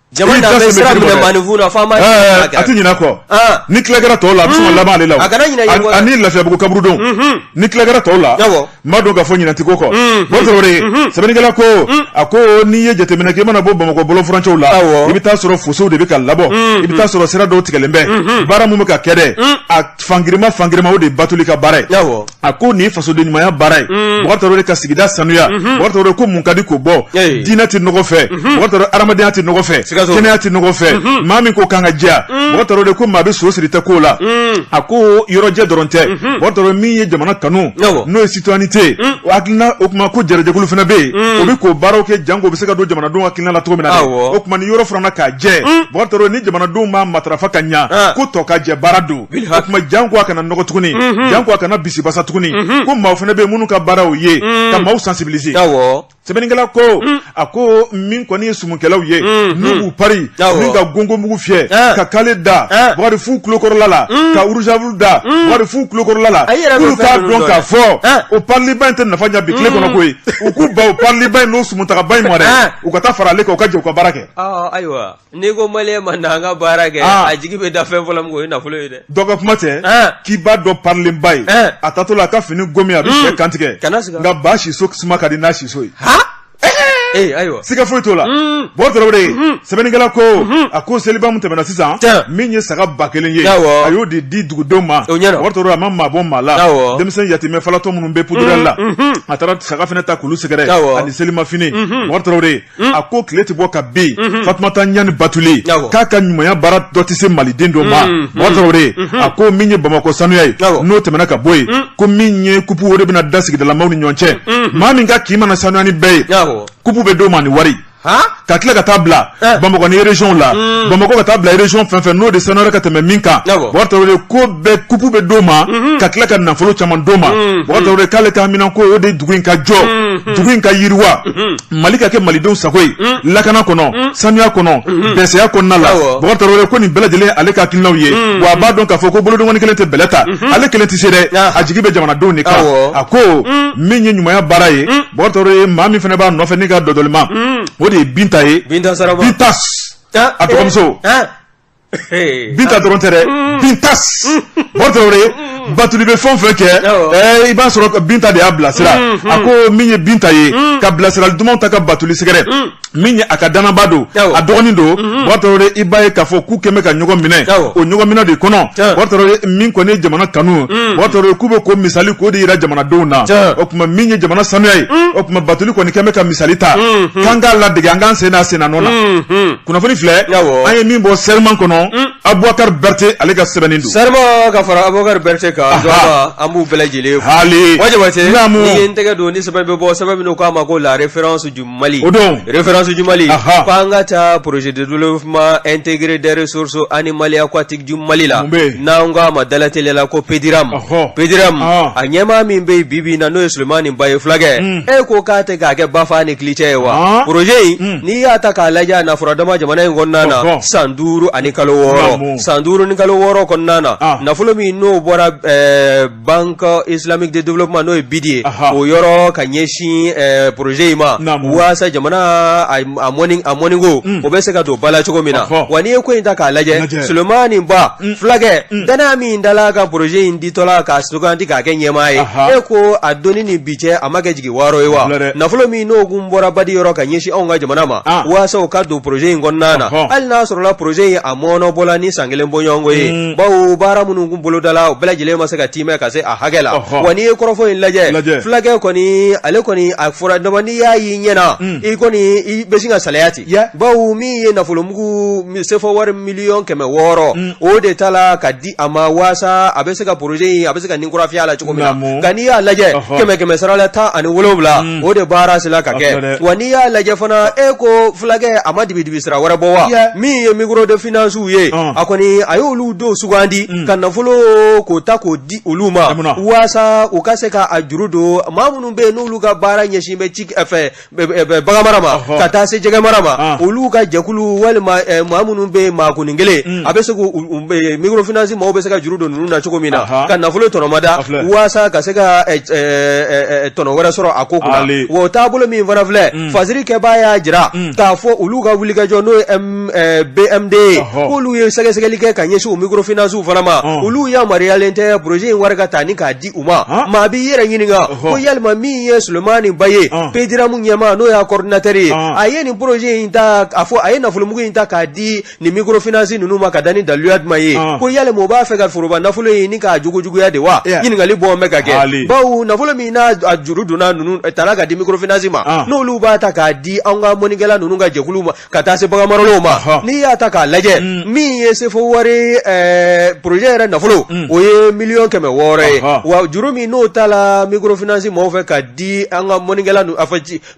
Jama Olu dan bɛ siran minɛ maaninfin na, fɔ an b'a ɲini Ɛɛ, Ala kira a tɛ ɲinɛ a kɔ. An. Ni tila kɛra tɔw la, a bɛ sɔn ka laban ale la o. A kana ɲinɛ ɲɛmɔgɔ la. Ani Lafiyabugu kaburudo. Ni tila kɛra tɔw la, Awɔ. n b'a dɔn k'a fɔ ɲinɛ tɛ k'o kɔ. Bon Traoré, sɛbɛnnikɛla ko, a ko n'i ye jateminɛ kɛ, i mana bɔ Bamakɔ bɔlɔn furancɛw la, Awɔ. i bɛ t'a sɔrɔ fosow de bɛ ka labɔ, i bɛ t'a sɔrɔ sira dɔw tigɛlen bɛ, baara min bɛ ka kɛ dɛ, a fangirinma fangirinma o de ye Batuli ka baara ye. Awɔ. a ko nin fasoden ɲumanya baara ye mm. Bon Traoré ka sigida sanuya mm-hmm. Bon Traoré ko mun ka di k'o bɔ diinɛ tɛ nɔgɔ fɛ mm-hmm. Bon Traoré adamadenya tɛ nɔgɔ fɛ kɛnɛya tɛ nɔgɔ fɛ mm-hmm. maa min ko k'an ka jɛya mm. Bon Traoré ko maa bɛ so siri tɛ ko la mm. a ko yɔrɔjɛ dɔrɔn tɛ Bon Traoré min ye jamana kanu n'o ye citoyenneté hakilina o tuma k'o yɛrɛ jɛkulu fana bɛ yen o bɛ k'o baaraw kɛ janko bɛ se ka don jamanadenw hakilina la cogo min na o tuma ni yɔrɔ furanna k'a jɛ Bon Traoré ni jamanadenw m'a matarafa ka ɲa ah. ko tokajɛ baara don o tuma janko a kana nɔgɔ tuguni janko a kana bisibasa tuguni ko maaw fana bɛ yen minnu ka baara ye ka maaw sensibiliser sɛbɛnnikɛla ko a ko min kɔni ye sumukɛlaw ye n'u b'u pari ni ka gɔngɔn mugu fiyɛ ka kale da warifu kukɔrɔla la ka rouge à lèvres da warifu kukɔrɔla la k'olu k'a dɔn k'a fɔ o pariliba in tɛ nafa ɲa bi tile kɔnɔ koyi u k'u ban o pariliba in n'o sumutaaba in ma dɛ u ka taa fara ale kan u ka jɛ ka baara kɛ N'i ko maliyɛn ma na an ka baara kɛ ah. a jigi bɛ da fɛn fɔlɔ min o ye nafolo ye dɛ dɔ ka kuma tɛ ah. k'i b'a dɔn parilenba ye ah. a tatɔ la a ka fini gomi a bɛ hmm. sɛ kantigɛ nka ba siso suma ka di n'a siso ye ee ayiwa siga foyi t'o la hmm. Bon Traoré hmm. sɛbɛnnikɛla ko a ko seliba min tɛmɛna sisan min ye saga ba kelen ye a y'o de di dugudenw ma Bon Traoré a ma maa bɔ maa la denmisɛn yatimɛ falatɔ minnu bɛ pudurali la a taara saga fana ta k'olu sɛgɛrɛ ani selimafini Bon Traoré Hmm. a ko tile tɛ bɔ ka bin hmm. fatumata ɲani batuli k'a ka ɲumanya baara dɔ tɛ se maliden dɔ ma hmm. mɔgɔ tarawele a ko min ye bamakɔ sanuya ye n'o tɛmɛna ka bɔ yen ko min ye kupu o de bɛna da sigidalamaw ni ɲɔgɔn cɛ maa min ka kin mana sanuya ni bɛɛ ye kupu bɛ d'o ma ni wari ka tila ka taa bila eh. bamakɔ ni région la bamakɔ ka taa bila région fɛn fɛn n'o de sanuyara ka tɛmɛ min kan mɔgɔ tarawele ko bɛɛ kupu bɛ d'o ma mhm. ka tila ka nafolo caman d'o ma mɔgɔ tarawele k'ale ka haminanko o de dugu in ka jɔ dugu in ka yiriwa Mali ka kɛ malidenw sago ye lakana kɔnɔ sanuya kɔnɔ bɛsɛya kɔnɔna la mɔgɔ tarawele ko nin bɛɛ lajɛlen ale ka hakilinaw ye wa a b'a dɔn k'a fɔ ko bolodenkɔni kelen tɛ bɛlɛ ta ale kelen tɛ se dɛ a jigi bɛ jamanadenw de kan a ko min ye ɲumanya baara ye mɔgɔ tarawele ye maa min fana b'a nɔfɛ ne ka dɔdɔlima o de ye binta ye binta a dɔgɔmuso binta dɔrɔn tɛ dɛ binta bɔtɔ ye batuli bɛ fɛn fɛn kɛ i b'a sɔrɔ binta de y'a bilasira a ko min ye binta ye ka bilasirali dumanw ta ka batuli sɛgɛrɛ min ye a ka dannabaa don a dɔgɔnin don bɔtɔ i b'a ye k'a fɔ k'u k'an bɛɛ ka ɲɔgɔn minɛ o ɲɔgɔnminɛ de kɔnɔ min kɔni ye jamana kanu bɔtɔ k'u bɛ ko misali k'o de jira jamanadenw na o tuma min ye jamana sanuya ye o tuma batuli kɔni k'an bɛɛ ka misali ta k'an k'a ladege an k'an sen d'a sennɔ na kunnafoni filɛ an ye min bɔ Serment kɔnɔ hmm. abubakari bɛrite ale ka sɛbɛnni don Serment ka fara abubakari bɛrite kan an b'u bɛɛ lajɛlen fo hali wajabate ne ye n tɛgɛ don ni sɛbɛn bɛ bɔ sɛbɛn min k'a ma ko la référence du Mali o don référence du Mali k'an ka taa projet de développement intégré des ressources animales aquatiques du Mali la n'an k'a ma dalateliya la ko pediram pediram a ɲɛmaa min bɛ yen bi bi in na n'o ye Sulemani Ba ye fulakɛ hmm. e ko k'a tɛ k'a kɛ bafa ni kilicɛ ye wa projet in hmm. n'i y'a ta k'a lajɛ a nafolo dama jamana in kɔnɔna na Ɔhɔn. san duuru ani kalo wɔɔrɔ Naamu. san duuru ni kalo wɔɔrɔ kɔnɔna na Ah. nafolo min n'o bɔra eh, banque islamique de développement n'o ye BID ye Aha. o yɔrɔ ka ɲɛsin eh, projet in ma Naamu. waasa jamana a a mɔni a mɔniko Mm. o bɛ se ka don ba la cogo min na Ɔhɔn. wa n'i ye ko in ta k'a lajɛ Lajɛ. sulemani ba Mm. fulakɛ Mm. dannaya min dala ka projet in ditɔla k'a suganti k'a kɛ ɲɛmaa ye Aha. e ko a donni ni bi cɛ a ma kɛ jigi waaro ye wa nafolo min n'o kun bɔra badi yɔrɔ ka ɲɛsin anw ka jamana ma waasa o ka don projet in kɔnɔna na hali n'a sɔrɔla projet in a mɔɔnɔbɔla ni san kelen bɔɲɔgɔnko ye mm. bawo baara minnu kun bolodala u bɛɛ lajɛlen ma se ka tiimɛ ka se a hakɛ la wa n'i ye kɔrɔfɔ in lajɛ fulakɛ kɔni ale kɔni a fɔra dama n'i y'a y'i ɲɛ na mm. i kɔni i bɛ sin ka salaya ten bawo min ye nafolomugu sefɔ wari miliyɔn kɛmɛ wɔɔrɔ mm. o de tala ka di a ma waasa a bɛ se ka projet in a bɛ se ka ni kura fiyɛ a la cogo min na nka n'i y'a lajɛ kɛmɛ kɛmɛ sarala tan ani wolowula mm. o de baara sera ka kɛ wa n'i y'a lajɛ fana e ko fulakɛ a ma dibidibi sira wɛrɛ bɔ wa min ye micro de finance ye a kɔni a y'olu dɔw sugandi mm. ka nafolo k'o ta k'o di olu ma waasa u ka se ka a juru don maa minnu bɛ yen n'olu ka baara ɲɛsin bɛ cikɛ bagan mara ma ka taa se jɛgɛ mara ma olu ka jɛkulu walima maa minnu bɛ maa kun kelen a bɛ se mikorofinansi maaw bɛ se ka juru don ninnu na cogo min na ka nafolo tɔnɔmada walasa ka se ka tɔnɔ wɛrɛ sɔrɔ a ko o taabolo min fana filɛ fasiri kɛbaa y'a jira k'a fɔ olu ka wulikajɔ n'o ye BMD k'olu ye sɛgɛsɛgɛli kɛ ka ɲɛsin mikorofinansiw fana ma olu yamaruyalen tɛ poroze in wari ka ta ni k'a di u ma maa b'i yɛrɛ ɲininka ko yalima min ye sulemani ba ye pediramu ɲɛmaa n'o y'a kɔrɔdinatɛri ye a ye nin poroze in ta a fɔ a ye nafolomugu in ta k'a di nin mikorofinansi ninnu ma ka da ni daluya jumɛn ye ko yalima o b'a fɛ ka foroba nafolo in ni k'a jogo juguya de wa ɲininkali bɔ bɛ ka kɛ bawo nafolo min n'a a juru donna ninnu tala ka di mikorofinansi ma n'olu b'a ta k'a di an ka mɔnikɛla ninnu ka jɛkulu ma ka taa se baganmaralaw ma n'i y'a ta k'a lajɛ mm. min ye sefo wari poroze yɛrɛ nafolo mm. o ye miliyɔn kɛmɛ wɔɔrɔ ye wa juru min n'o ta la mikorofinansi mɔgɔw fɛ ka di an ka mɔnikɛla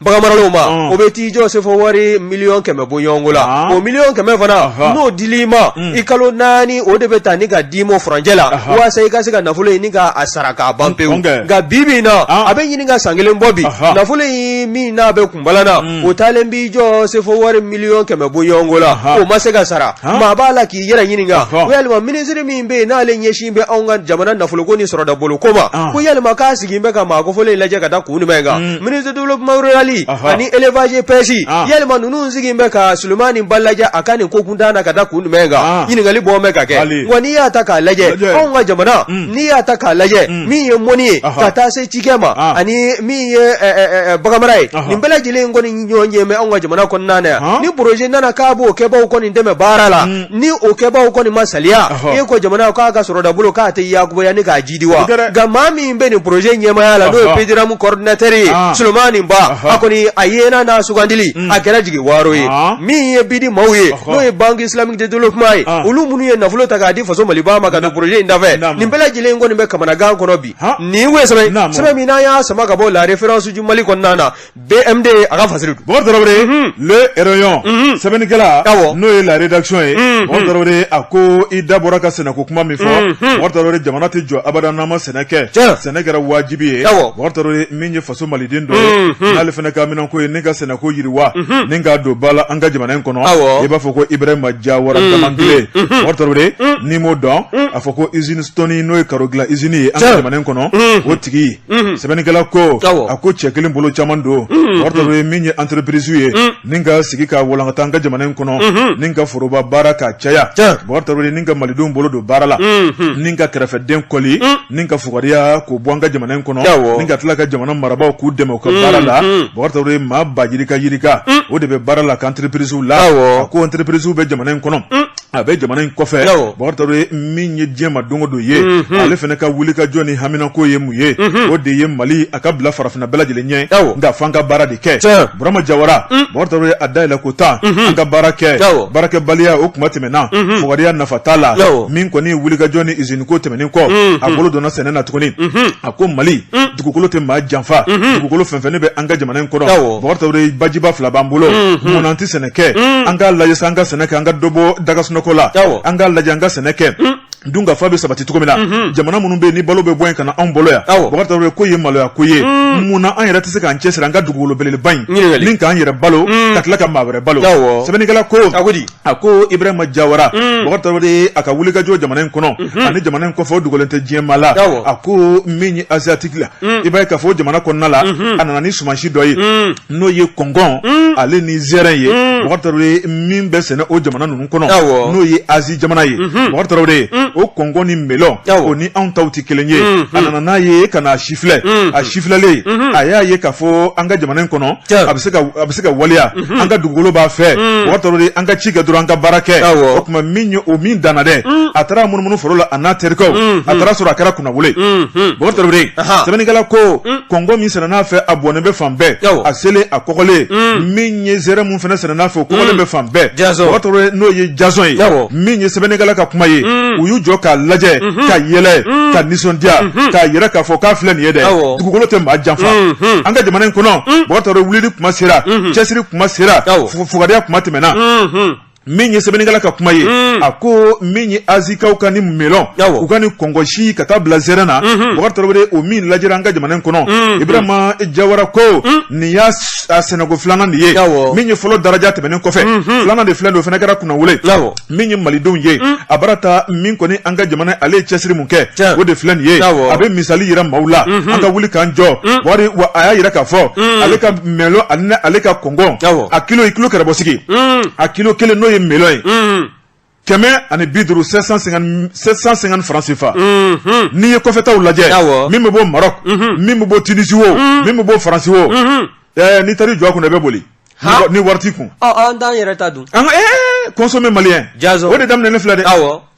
baganmaralaw ma mm. o bɛ t'i jɔ sefo wari miliyɔn kɛmɛ bɔ ɲɔgɔnko la o miliyɔn kɛmɛ fana n'o dila i ma i kalo naani o de bɛ ta ni ka d'i ma furancɛ la walasa i ka se ka nafolo in ni ka a sara k'a ban pewu nka bi bi in na a bɛ ɲini ka san kelen bɔ bi nafolo in min n'a bɛ bala mm. o taalen b'i jɔ sefo wari miliyɔn kɛmɛ bɔ ɲɔgɔnko la o ma se ka sara maa b'a la k'i yɛrɛ ɲininka ko yalima minisiri min bɛ yen n'ale ɲɛsin bɛ anw ka jamana nafoloko ni sɔrɔdabolo ko ma ko yalima k'a sigi bɛ ka maa kofɔlen lajɛ ka da kun jumɛn kan mm. minisiri développement rural ani élevage pêche yalima ninnu sigi bɛ ka Sulemani Ba lajɛ a ka nin ko kuntan na ka da kun jumɛn kan ɲininkali bɔ bɛ ka kɛ wa n'i y'a ta k'a lajɛ anw ka jamana mm. n'i y'a ta k'a lajɛ min ye mɔni ye ka taa se cikɛ ma ani min ye baganmara ye nin bɛɛ lajɛlen kɔni ɲɔgɔn ye mɛ anw ka jamana kɔnɔna na yan ni poroze nana k'a b'o kɛbaaw kɔni dɛmɛ baara la ni o kɛbaaw kɔni ma saliya e ko jamana k'a ka sɔrɔdabolo k'a tɛ yakuba ni k'a jidi wa nka maa min bɛ nin poroze ɲɛmaya la n'o ye pediramu kɔrɔdinatɛri ye sulemani ba a kɔni a yena n'a sugandili a kɛra jigiwaaro ye min ye bidi maaw ye n'o ye ban islamique de développement ye olu minnu ye nafolo ta k'a di faso mali ba ma ka don poroze in dafɛ nin bɛɛ lajɛlen kɔni bɛ kamanagan kɔnɔ bi nin ye sɛbɛn min n'an y'a sama ka bɔ la référence du mali kɔnɔna na BMD a ka fasiri don bɔkari tarawele le rayon sɛbɛnnikɛla n'o ye la rédaction ye bɔkari a ko i da bɔra ka sɛnɛko kuma min fɔ bɔkari jamana tɛ jɔ abada n'an ma sɛnɛ kɛ sɛnɛ kɛra wajibi ye mɔgɔ min faso maliden dɔ ye n'ale fana haminanko ye ni ka sɛnɛko yiriwa ni k'a don ba la an ka jamana in kɔnɔ i b'a fɔ ko ibrahima jawara damankile bɔkari tarawele n'i m'o dɔn a fɔ ko izini stoni n'o ye karo dilan izini ye an ka jamana in kɔnɔ o tigi sɛbɛnnikɛla ko a ko cɛ kelen bolo caman don bɔkari tarawele min ye entreprise ye ni ka sigi ka walankata an ka jamana in kɔnɔ mhm. ni ka foroba baara ka caya bakari tarawele ni ka malidenw bolo don baara la mhm. ni ka kɛrɛfɛden kɔli mhm. ni ka fugariya k'o bɔ an ka jamana in kɔnɔ ni ka tila ka jamana marabaaw k'u dɛmɛ u ka baara la bakari tarawele maa b'a yirikayirika o de bɛ baara la a ka antirepirisiw la a ko antirepirisiw bɛ jamana in kɔnɔ a bɛ jamana in kɔfɛ bakari tarawele min ye diɲɛ ma don o don ye mhm. ale fana ka wulikajɔ ni haminako ye mun ye mhm. o de ye mali a ka bila farafinna bɛɛ lajɛlen ɲɛ nka f'an ka baara de kɛ burama jawara mhm. bakari tarawele a dayɛlɛn ko tan an ka baara kɛ baarakɛbaliya o kuma tɛmɛna fugariya nafa t'a la min kɔni wulikajɔ ni iziniko tɛmɛnen kɔ a bolo donna sɛnɛ na tuguni a ko mali dugukolo tɛ maa janfa dugukolo fɛnfɛnnen bɛ an ka jamana in kɔnɔ bakari tarawele bajiba fila b'an bolo mun na an tɛ sɛnɛ kɛ an k'a lajɛ an ka sɛnɛ kɛ an ka dɔ bɔ dagasunɔgɔ la an k'a lajɛ an ka sɛnɛ kɛ dunkafa bɛ sabati cogo min na jamana minnu bɛ yen ni balo bɛ bɔ yen ka na anw bolo yan bakari tarawele k'o ye maloyako ye mun na an yɛrɛ tɛ se k'an cɛsiri an ka dugukolo belebeleba in na k'an yɛrɛ balo ka tila ka maa wɛrɛ balo sɛbɛnnikɛla ko a ko ibrahima jawara bakari tarawele a ka wulikajɔ jamana in kɔnɔ ani jamana in kɔfɛ o dogolen tɛ diɲɛ maa la Awɔ. a ko min ye asiatiki la i b'a ye k'a fɔ o jamana kɔnɔna la a nana ni sumansi dɔ ye n'o ye kɔngɔn ale ni zɛrɛn ye bakari tarawele min bɛ sɛnɛ o jamana ninnu kɔnɔ Awɔ. n'o ye azi jamana ye bakari tarawele o kɔngɔn ni melɔn Awɔ. o ni anw taw tɛ kelen ye a nana n'a ye ka na a sifilɛ a sifilɛlen a y'a ye k'a fɔ an ka jamana in kɔnɔ Tiɲɛ. a bɛ se ka a bɛ se ka waleya an ka dugukolo b'a fɛ bakari tarawele an ka ci kɛ dɔrɔn an ka baara kɛ o tuma min ye o min danna dɛ a taara munumunu foro la a n'a terikɛw a taara sɔrɔ a kɛra kunnawolo sɛbɛnnikɛla ko kɔngɔn min sɛnɛn'a fɛ a bɔnnen bɛ fan bɛɛ a selen a kɔgɔlen min ye zɛrɛ min fana sɛnɛn'a fɛ o kɔgɔlen bɛ fan bɛɛ n'o ye jasɔn ye min ye sɛbɛnnikɛla ka kuma ye u y'u jɔ k'a lajɛ ka yɛlɛ ka nisɔndiya k'a yɛrɛ k'a fɔ k'a filɛ nin ye dɛ dugukolo tɛ maa janfa an ka jamana in kɔnɔ bakari tarawele wulili kuma sera cɛsiri kuma sera fugariya kuma tɛmɛna min ye sɛbɛnnikɛla ka kuma ye a ko min ye azikaw ka nin melɔn u ka nin kɔngɔnsi ka taa bila zɛrɛn na bakari tarawele o min lajɛra an ka jamana in kɔnɔ ibrahima jawara ko nin y'a sɛnɛko filanan de ye min ye fɔlɔ daraja tɛmɛnen kɔfɛ filanan de filɛ don o fana kɛra kunnawolo min ye malidenw ye mm. a bara ta min kɔni an ka jamana ale ye cɛsiri mun kɛ o de filɛ nin ye a bɛ misali yira maaw la mm-hmm. an ka wuli k'an jɔ mm. wari wa a y'a yira k'a fɔ mm. ale ka melɔn ani ale ka kɔngɔn a kilo i kilo kɛrɛbɔ sigi a kilo kelen n'o ye melɔn ye kɛmɛ ani bi duuru sept cent cinquante franc CFA. Mm-hmm. n'i ye kɔfɛtaw lajɛ min bɛ bɔ Maroc mm-hmm. min bɛ bɔ Tunisie o min bɛ bɔ Faransi o n'i taar'i jɔ a kunna i bɛ boli. ni wari t'i kun an t'an yɛrɛ ta dun consommer malien o de daminɛ ne filɛ dɛ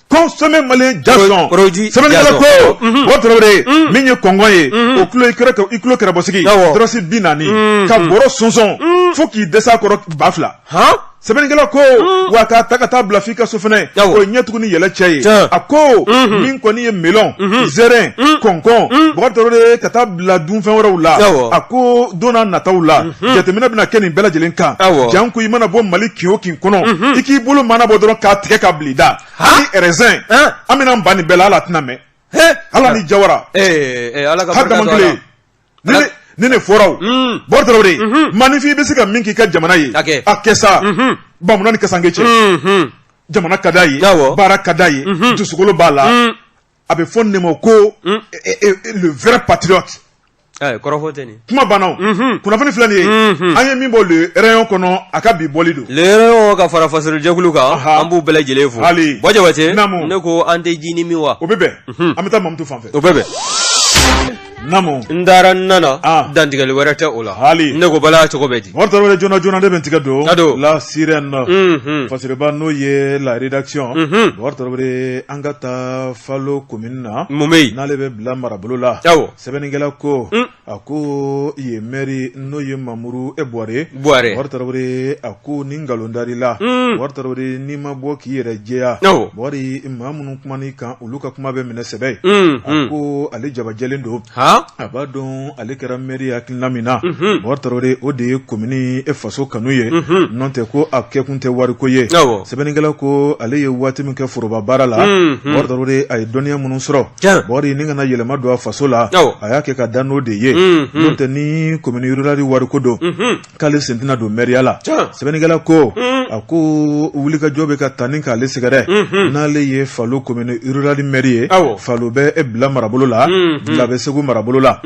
consommer malien jasɔn sɛbɛnnikɛla ko bubakari tarawele min ye kɔnkɔn ye o kilo kɛrɛbɔsigi dɔrɔsi bi naani ka bɔrɔ sɔnsɔn fo k'i dɛsɛ a kɔrɔ ba fila sɛbɛnnikɛla ko wa k'a ta ka taa bila f'i ka so fana o ye ɲɛtugu ni yɛlɛ cɛ ye a ko min kɔni ye melɔn zɛrɛn kɔnkɔn bubakari tarawele ka taa bila dunfɛn wɛrɛw la a ko donna nataw la jateminɛ bɛna kɛ nin bɛɛ lajɛlen kan janko i mana bɔ mali kin o kin kɔnɔ i k'i bolo mɔɔnɔbɔ dɔrɔn k'a tigɛ k'a bil'i da hali rɛzɛn an bɛna ban nin bɛɛ la ala tɛna mɛn ala ni jawara hadamaden ni ne fɔraw bubakari tarawele manifin i bɛ se ka min k'i ka jamana ye a kɛ sa bamunan ni kasanke cɛ jamana ka d'a ye baara ka d'a ye dusukolo b'a la a bɛ fɔ nin ma ko hmm. le vrai patriote eh, kɔrɔfɔ tɛ nin kuma banna hmm. kunnafoni filɛ nin ye hmm. an ye min bɔ le rayon kɔnɔ a ka bi bɔli don le rayon ka fara fasorojɛkulu kan an b'u bɛɛ lajɛlen fo hali bɔ jabate ne ko an tɛ jinin min wa o bɛ bɛn an bɛ taa mamutu fan fɛ o bɛ bɛn Naamu n taara n nana an dantigɛli wɛrɛ tɛ o la hali ne ko bala cogo bɛ di bubakari tarawele joona joona ne bɛ n tigɛ don ka don la sirène na fasiriba n'o ye la rédaction bubakari tarawele an ka taa falo komini na mun bɛ yen n'ale bɛ bila marabolo la sɛbɛnnikɛla ko a ko yen mɛri n'o ye mamuru e buware bubakari tarawele a ko ni nkalon dar'i la bubakari tarawele n'i ma bɔ k'i yɛrɛ jɛya bubakari maa minnu kuman'i kan olu ka kuma bɛ minɛ sɛbɛ ye mm, a mm. ko ale jabajɛlen don a b'a dɔn ale kɛra mɛri hakilina min na mm-hmm. bubakari tarawele o de ye komini e faso kanu ye mm-hmm. n'o tɛ ko a kɛkun tɛ wariko ye sɛbɛnnikɛla ko ale ye waati min kɛ foroba baara la bubakari mm-hmm. tarawele a ye dɔnniya minnu sɔrɔ bubakari ni ka na yɛlɛma don a faso la a y'a kɛ ka da n'o de ye n'o tɛ ni komini rurali wariko don k'ale sen tɛna don mɛriya la sɛbɛnnikɛla ko a ko wulikajɔ bɛ ka ta ni k'ale sɛgɛrɛ n'ale ye falo komini rurali mɛri ye falo bɛ e bila marabolo la bila bɛ segu marabolo la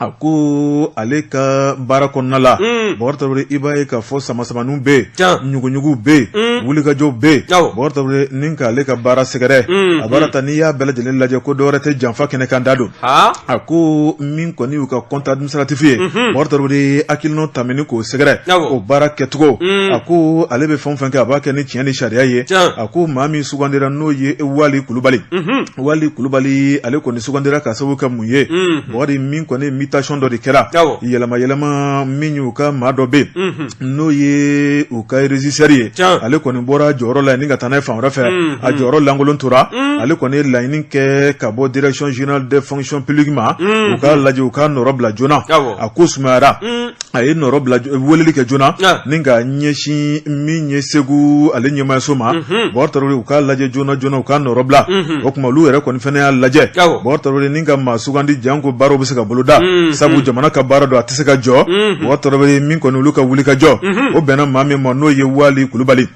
a ko ale ka baara kɔnɔna la bubakari tarawele i b'a ye k'a fɔ samasamaniw bɛ yen ɲuguɲugu bɛ yen wulikajɔw bɛ yen bubakari tarawele ni k'ale ka baara sɛgɛrɛ a baara ta n'i y'a bɛɛ lajɛlen lajɛ ko dɔwɛrɛ tɛ janfa kɛnɛkanda don a ko min kɔni y'u ka compte stratif ye bubakari tarawele hakilina ta k'o sɛgɛrɛ o baara kɛcogo a ko ale bɛ fɛn fɛn kɛ a b'a kɛ ni tiɲɛ ni sariya ye a ko maa min sugandira n'o ye wali kulubali wali kulubali ale kɔni sugandira ka sababu kɛ mun ye bubakari min kɔni mutation dɔ de kɛra yɛlɛma yɛlɛma min y'u ka maa dɔ bɛ yen n'o ye u ka régisseur ye ale kɔni bɔra jɔyɔrɔ la ni ka taa n'a ye fan wɛrɛ fɛ mm, a mm. jɔyɔrɔ lankolon tora mm. ale kɔni ye laɲini kɛ ka bɔ direction générale de fonction publique ma u k'a lajɛ u k'a nɔrɔ bila joona a ko sumayara a ye weleli kɛ joona ni ka ɲɛsin min ye segu ale ɲɛmaayaso ma mm-hmm. bakari tarawele u k'a lajɛ joona joona u k'a nɔrɔ bila mm-hmm. o tuma olu yɛrɛ kɔni fana y'a lajɛ bakari tarawele ni ka sugandi janko baaraw bɛ se ka boloda mm, sabu mm. jamana ka baara don a tɛ se ka jɔ mm-hmm. bakari tarawele min kɔni olu ka wuli ka jɔ mm-hmm. o bɛnna maa min ma n'o ye wali kulubali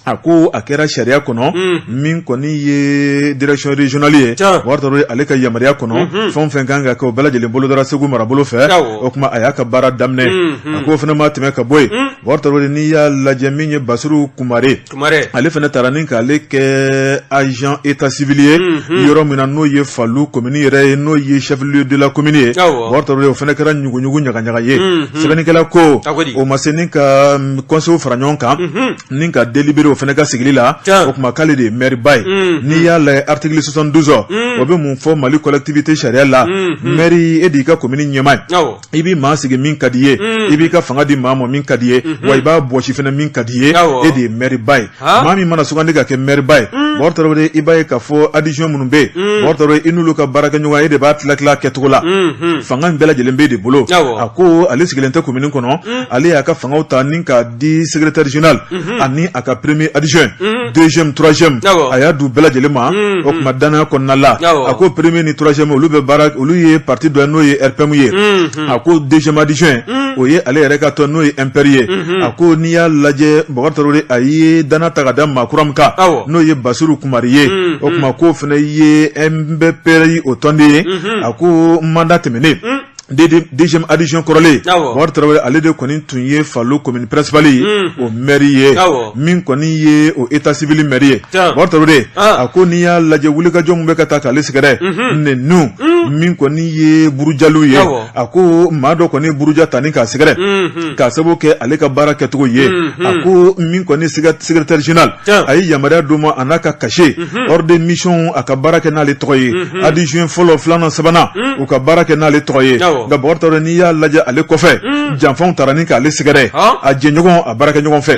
a ko a kɛra sariya kɔnɔ mm. min kɔni ye direction régionale ye bakari tarawele ale ka yamaruya kɔnɔ mm-hmm. fɛn o fɛn kan ka kɛ o bɛɛ lajɛlen bolodara segu marabolo fɛ o tuma a y'a ka baara daminɛ a k'o fana ma tɛmɛ ka bɔ yen bakari tarawele n'i y'a lajɛ min ye basiru kumare Kumare ale fɛnɛ taara ni k'ale kɛ agent état civil ye yɔrɔ min na n'o ye Falo commune yɛrɛ ye n'o ye chef lieu de la commune ye awɔ Bakari Tarawele o fɛnɛ kɛra ɲuguɲugu ɲagaɲaga ye sɛbɛnnikɛla ko A ko di? o ma se ni ka conseil fara ɲɔgɔn kan ni ka délibéré o fɛnɛ ka sigili la Tiɲɛ. o tuma k'ale de ye maire ba ye n'i y'a lajɛ article 72 o bɛ mun fɔ Mali collectivité sariya la maire e de y'i ka commune ɲɛmaa ye awɔ i b'i maa sigi min ka di ye i b'i ka fanga di maa ma min ka di ye wa i b'a bɔsi fɛnɛ min ka di ye e de ye mɛriba ye maa min mana sugandi ka kɛ mɛriba ye bakari tarawele i b'a ye k'a fɔ adjoint minnu bɛ yen bakari tarawele i n'olu ka baara kɛ ɲɔgɔn e de b'a tila tila kɛcogo la fanga in bɛɛ lajɛlen b'e de bolo a ko ale sigilen tɛ komini kɔnɔ ale y'a ka fanga ta ni k'a di secrétaire général ani a ka premier adjoint deuxième troisième a y'a d'u bɛɛ lajɛlen ma o tuma dannaya kɔnɔna la a ko premier ni troisième olu bɛ baara olu ye parti dɔ n'o ye RPM ye a ko deuxième adjoint o ye ale yɛrɛ ka tɔn n'o ye MPR ye a ko n'i y'a lajɛ bakari tarawele a ye dannaya ta k'a da maa kura min kan n'o ye basiru kumare ye o tuma k'o fana ye MPR ye o tɔnden ye a ko mandat tɛmɛnen deuxième adjoint kɔrɔlen Bakari Tarawele ale de kɔni tun ye Falo commune principale ye o maire ye min kɔni ye o état civil maire ye Bakari Tarawele a ko n'i y'a lajɛ wulikajɔ min bɛ ka taa k'ale sɛgɛrɛ neniw min kɔni ye burujaliw ye a ko maa dɔ kɔni ye buruja ta ni k'a sɛgɛrɛ k'a sababu kɛ ale ka baara kɛcogo ye a ko min kɔni ye secrétaire général a ye yamaruya d'o ma a n'a ka cachet ordre de mission a ka baara kɛ n'ale tɔgɔ ye adjoint fɔlɔ filanan sabanan u ka baara kɛ n'ale tɔgɔ ye nka bakari tarawele n'i y'a lajɛ ale kɔfɛ janfaw taara ni k'ale sɛgɛrɛ a jɛɲɔgɔn a baarakɛɲɔgɔn fɛ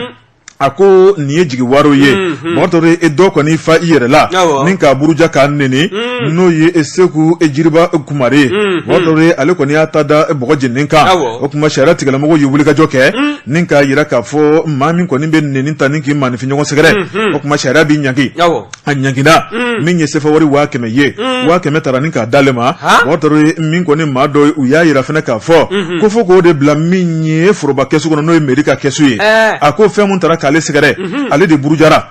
a ko nin ye jigiwaaro ye bakari tarawele e dɔ kɔni fa i yɛrɛ la ni k'a buruja k'a neni n'o ye e segu e jiriba kumare ye bakari tarawele ale kɔni y'a ta da bɔgɔ jeninen kan o tuma sariya tigilamɔgɔ ye wulikajɔ kɛ Ni k'a jira k'a fɔ maa min kɔni bɛ neni ta ni k'i maaninfin ɲɔgɔn sɛgɛrɛ o tuma sariya b'i ɲangi a ɲangina min ye sefa wari waa kɛmɛ ye waa kɛmɛ taara ni k'a d'ale ma bɔkari tarawele min kɔni maa dɔw y'a jira fana k'a fɔ ko fo k'o de bila min ye foroba kɛsu kɔnɔ n'o ye mɛri ka kɛsu ye a ko fɛn min taara k'ale sɛgɛrɛ ale de burujara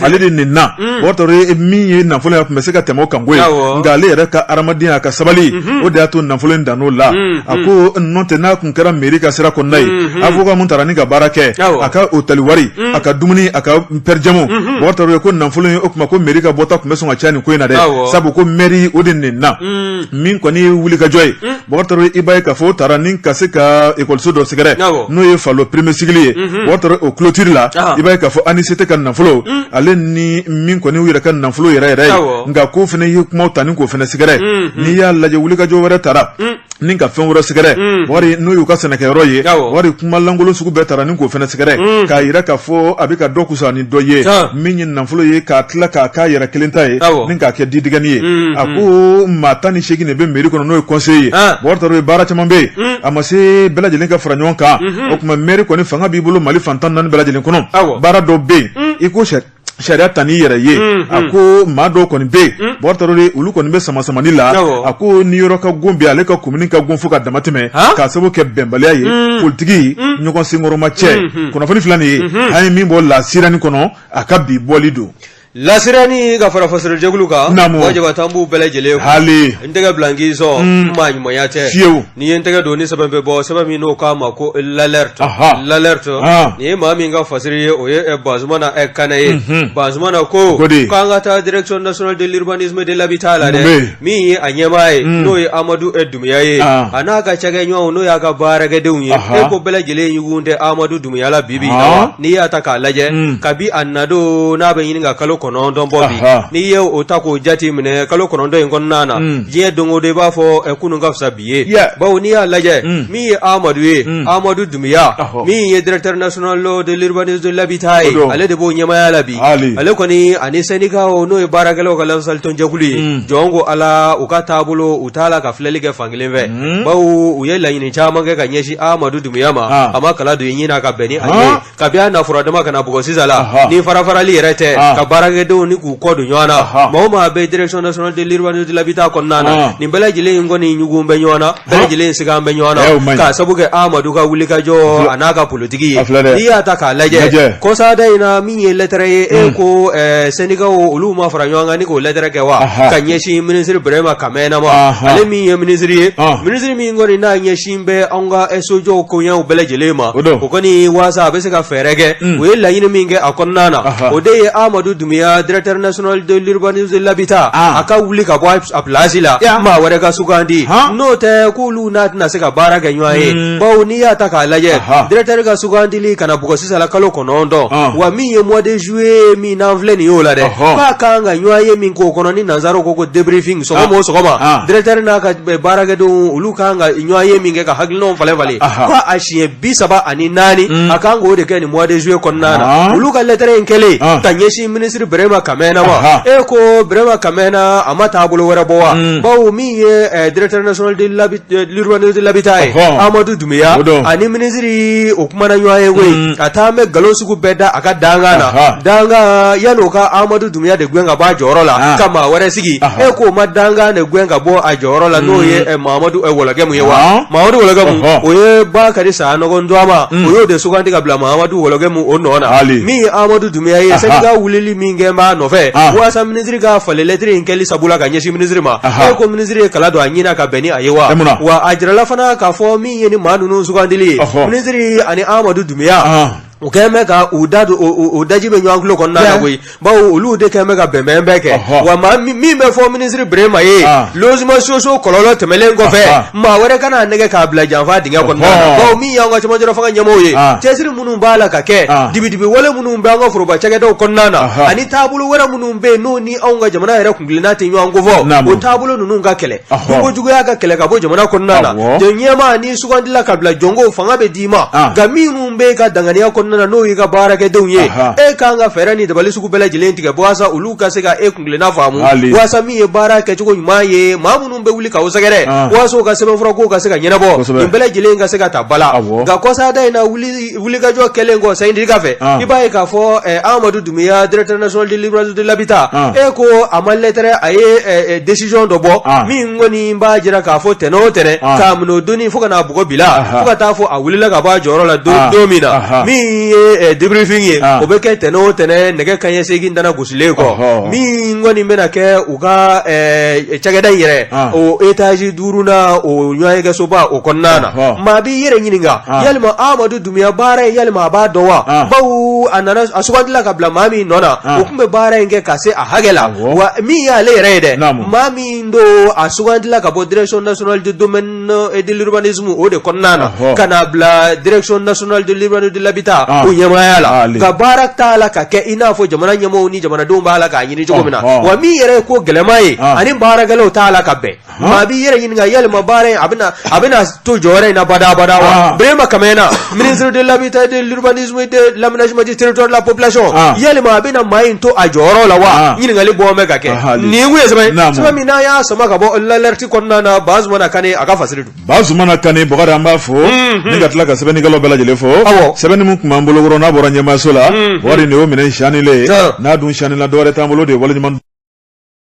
ale de nenna bɔkari tarawele min ye nafolo ye a tun bɛ se ka tɛmɛ o kan ko nka ale yɛrɛ ka hadamadenya a ka sabali o de y'a to nafolo in dann'o la a ko n'o tɛ n'a n kɛra mɛri ka sira kɔnɔna ye mhm. avoka min taara ni ka baara kɛ a ka otɛli wari mhm. a ka dumuni a ka pɛrɛjɛmu mhm. bɔkari tarawele ko nafolo in o tuma ko mɛri ka bɔta tun bɛ sɔn ka caya nin ko in na dɛ sabu ko mɛri o de nenna min kɔni ye wulikajɔ ye bɔkari tarawele i b'a ye k'a fɔ o taara ni ka se ka ekɔliso dɔ sɛgɛrɛ n'o ye falo premier cycle ye bɔkari tarawele o kulotiri la i b'a ye k'a fɔ ANICT ka nafolo ale ni min kɔni yɛrɛ ka nafolo yɛrɛ yɛrɛ ye nka ko fana ye kumaw ta ni k'o fana sɛgɛrɛ n'i y'a lajɛ wulikajɔ wɛrɛ taara ni ka fɛn wɛrɛ sɛgɛrɛ mm. wari n'o y'u ka sɛnɛkɛyɔrɔ ye wari kumalankolon sugu bɛɛ taara ni k'o fana sɛgɛrɛ mm. k'a yira k'a fɔ a bɛ ka dɔ kusa ni dɔ ye min ye nafolo ye k'a tila k'a k'a yɛrɛ kelen ta ye ni k'a kɛ didigɛni ye mm, a ko maa tan ni seegin de bɛ mɛri kɔnɔ n'o ye kɔnseye ye bɔkari tarawele baara caman bɛ yen a ma se bɛɛ lajɛlen ka fara ɲɔgɔn kan mm-hmm. o tuma mɛri kɔni fanga b'i bolo mali fan tan ni naani bɛɛ lajɛlen kɔnɔ baara dɔ bɛ yen i ko sɛ sariya ta n'i yɛrɛ ye a ko maa dɔw kɔni bɛ yen bɔkari tarawele olu kɔni bɛ sama samani la a ko ni yɔrɔ ka gon bɛ ale ka komini ka gon fo ka dama tɛmɛ k'a sababu kɛ bɛnbaliya ye politiki ɲɔgɔn senkɔrɔmacɛ kunnafoni fila nin ye an ye min bɔ lasirani kɔnɔ a ka bi bɔli don lasirani ka fara fasirijɛkulu kan jaba tan b'u bɛɛ lajɛlen hali n tɛgɛ bila k'i sɔn maa ɲumanya tɛ fiyewu N'i ye n tɛgɛ don ni sɛbɛn bɛ bɔ sɛbɛn min n'o k'a ma ko lalɛriti lalɛriti nin ye maa min ka fasiri ye o ye bazumana kanɛ ye bazumana ko k'an ka taa direction de l'urbanisme de l'habitat la dɛ min ye a ɲɛmaa ye n'o ye amadu dumuya ye a n'a ka cakɛɲɔgɔnw n'o y'a ka baarakɛdenw ye e ko bɛɛ lajɛlen ɲugun tɛ amadu dumuya la bibi in na wa n'i y'a ta k'a lajɛ kabi a nadon n'a bɛ ɲini ka kalo kɔnɔ kɔnɔntɔn bɔ bi n'i ye o ta k'o jate minɛ kalo kɔnɔntɔn in kɔnɔna na mm. diɲɛ don o don i b'a fɔ kunun ka fisa bi ye bawo n'i y'a lajɛ mm. min ye amadu ye mm. amadu dumuya min ye directeur national de l'urbanisme de l'habitat ye ale de b'o ɲɛmaya la bi ale kɔni ani sɛndikaw n'o ye baarakɛlaw ka lafasalitɔnjɛkulu ye jɔn ko ala u ka taabolo u t'a la ka filɛli kɛ fankelen fɛ bawo u ye laɲini caman kɛ ka ɲɛsin amadu dumuya ma a ma kala don ye ɲinin ka bɛn ni a ye kabi a na fura dama ka na bugɔ sisan la Aha. ni farafarali yɛrɛ tɛ Ah. ka baarakɛdenw ni k'u kɔ don ɲɔgɔn na Aha. maa o maa bɛ direction nationale de l'urbanisme de l'habitat kɔnɔna na Ah. nin bɛɛ lajɛlen in kɔni ɲugun bɛ ɲɔgɔn na bɛɛ lajɛlen in sigan bɛ ɲɔgɔn Eh, o man na ɲi. k'a sabu kɛ amadu ka wulikajɔ filɛ- a n'a ka politiki ye a filɛ dɛ. n'i y'a ta k'a Lajɛ. lajɛ kɔsada in na min ye lɛtɛrɛ ye e ko eh, sɛndikaw olu ma fara ɲɔgɔn kan ni k'o lɛtɛrɛ kɛ wa Aha. ka ɲɛsin minisiri burama kamɛna ma Aha. ale min ye minisiri ye Ah. minisiri min kɔni n'a ɲɛsin n bɛ an ka sojɔw koɲɛw bɛɛ lajɛlen ma o don o kɔni waasa a bɛ se ka fɛɛrɛ kɛ u ye laɲini min kɛ a kɔnɔna na Aha. o de ye Amadu Dunbiya directeur national de l'urbanisme de l'habitat Ah. a ka wuli ka bɔ a place la Ya. maa wɛrɛ ka sugandi Han. n'o tɛ k'olu n'a tɛna se ka baara kɛ ɲɔgɔn ye Mm. bawo n'i y'a ta k'a lajɛ Aha. directeur ka sugandili ka n'a bugɔ sisan la kalo kɔnɔntɔn Ah. wa min ye mois de juillet min n'an filɛ nin y'o la dɛ Ɔhɔ. k'a kan ka ɲɔgɔn ye min k'o kɔnɔ ni nanzaraw ko ko debriefing sɔgɔma o sɔgɔma Ah. directeur n'a ka eh, baarakɛdenw olu kan ka ɲɔgɔn ye min kɛ ka hakilinaw falen falen ko a siɲɛ bi saba ani naani mm. a kan k'o de kɛ nin mois de juillet kɔnɔna na olu ka lettre in kɛlen ka ɲɛsin minisiri Birahima Kamɛna ma wa e ko Birahima Kamɛna a ma taabolo wɛrɛ bɔ wa mm. bawo min ye eh, directeur national de eh, l'urbanisme de l'habitat ye Amadu Dunbiya ani minisiri o kumana ɲɔgɔn ye koyi mm. ka taa an bɛ nkalon sugu bɛɛ da a ka dankan na dankan yanni o ka Amadu Dunbiya de gɛn ka bɔ a jɔyɔrɔ la ah. ka maa wɛrɛ sigi ah. e k'o ma dankan de gɛn ka bɔ a jɔyɔrɔ la n'o ye mm. eh, mamadu eh, Wologɛmu ye wa ah. mamadu Wologɛmu o ye Bakari Sanɔgɔ dɔma mm. o y'o de sugandi ka bila mamadu Wologɛmu o nɔ na min ye amadu Dunbiya ye sɛndika wulili min kɛ b'a nɔfɛ walasa minisiri ka falen lɛtiri in kɛli sabula ka ɲɛsin minisiri ma e ko minisiri ye kala don a ɲina ka bɛn ni a ye wa wa a jirala fana k'a fɔ min ye ni maa ninnu sugandili ye minisiri ani amadu Dunbiya u kɛlen bɛ ka u da don u daji bɛ ɲɔgɔn tulo kɔnɔna na koyi bawo olu de kɛlen bɛ ka bɛnbɛn bɛɛ kɛ wa maa min bɛ fɔ minisiri Birema ye logement sociaux kɔlɔlɔ tɛmɛnen kɔfɛ maa wɛrɛ kan'a nɛgɛn k'a bila janfa dingɛ kɔnɔna na bawo min y'an ka cɛmancɛ fanga ɲɛmaaw ye cɛsiri minnu b'a la ka kɛ dibidibi wale minnu bɛ an ka foroba cakɛdaw kɔnɔna na ani taabolo wɛrɛ minnu bɛ yen n'o ni anw ka jamana yɛrɛ kuntilenna tɛ ɲɔgɔn ko fɔ o taabolo ninnu ka kɛlɛ nunko juguya ka kɛlɛ ka bɔ jamana kɔnɔna na jɔn ɲɛmaa min sugandila ka bila jɔnko fanga bɛ d'i ma nka minnu b'i ka danganiya kɔnɔna na n'o y'i ka baarakɛdenw ye e ka kan ka fɛɛrɛ ni dabali sugu bɛɛ lajɛlen tigɛ walasa olu ka se ka e kuntilenna faamu walasa min ye baara kɛcogo ɲuman ye maa minnu bɛ wuli ka o sɛgɛrɛ walasa u ka sɛbɛnfura kow ka se ka ɲɛnabɔ nin bɛɛ lajɛlen ka se ka ta ba la nka kɔsa da in na wuli wulikajɔ kɛlen kɔ sɛndika fɛ i b'a ye k'a fɔ amadu Dunbiya directeur national de l'urbanisme de l'habitat e ko a ma lɛtɛrɛ a ye décision dɔ bɔ min kɔni b'a jira k'a fɔ tɛnɛn o tɛnɛn k'a minɛ o don fo ka n'a bugɔ bi la fo ka t'a fɔ a wulila ka bɔ a jɔyɔrɔ la don don min na min ye debriefing ye o bɛ kɛ tɛnɛn o tɛnɛn nɛgɛ kanɲɛ segin nana gosilen kɔ min kɔni bɛna kɛ u ka cakɛda yɛrɛ o etaz duuru na o ɲɔgɔnyekɛsoba o kɔnɔna na maa b'i yɛrɛ ɲininka yalima amadu Dunbiya baara in yalima a b'a dɔn wa bawo a nana a sugandila ka bila maa min nɔ na o tun bɛ baara in kɛ ka se a hakɛ la wa min y'ale yɛrɛ ye dɛ maa min don a sugandila ka bɔ direction nationale des domaines et de l'urbanisme o de kɔnɔna na ka n'a bila direction nationale de l'urbanisme de l'habitat o ɲɛmaaya la ka baara t'a la ka kɛ i n'a fɔ jamana ɲɛmaaw ni jamanadenw b'a la k'a ɲini cogo min na wa min yɛrɛ ye ko gɛlɛyama ye ani baarakɛlaw t'a la ka bɛn maa b'i yɛrɛ ɲininka yalima baara in a bɛna a bɛna to jɔyɔrɔ in na badabada wa Birama Kamena ministre de l'habitat de l'aménagement du territoire de la population yalima a bɛna maa in to a jɔyɔrɔ la wa ɲininkali bɔ bɛ ka kɛ nin ye sɛbɛn min n'a y'a sama ka bɔ la kɔnɔna na Bazumana Kane a ka fasiri don. Bazumana Kane Bɔkari an b'a fo. Mhm. Ni ka tila ka sɛbɛnnikɛlaw bɛɛ lajɛlen fo. Awɔ. Sɛbɛnni min tun b'an bolo kɔrɔ n'a bɔra ɲɛmaayaso la. Mhm. Bɔkari nin y'o minɛn siyanilen ye. N'a dun siyanila dɔwɛrɛ t'an bolo de ye waleɲuman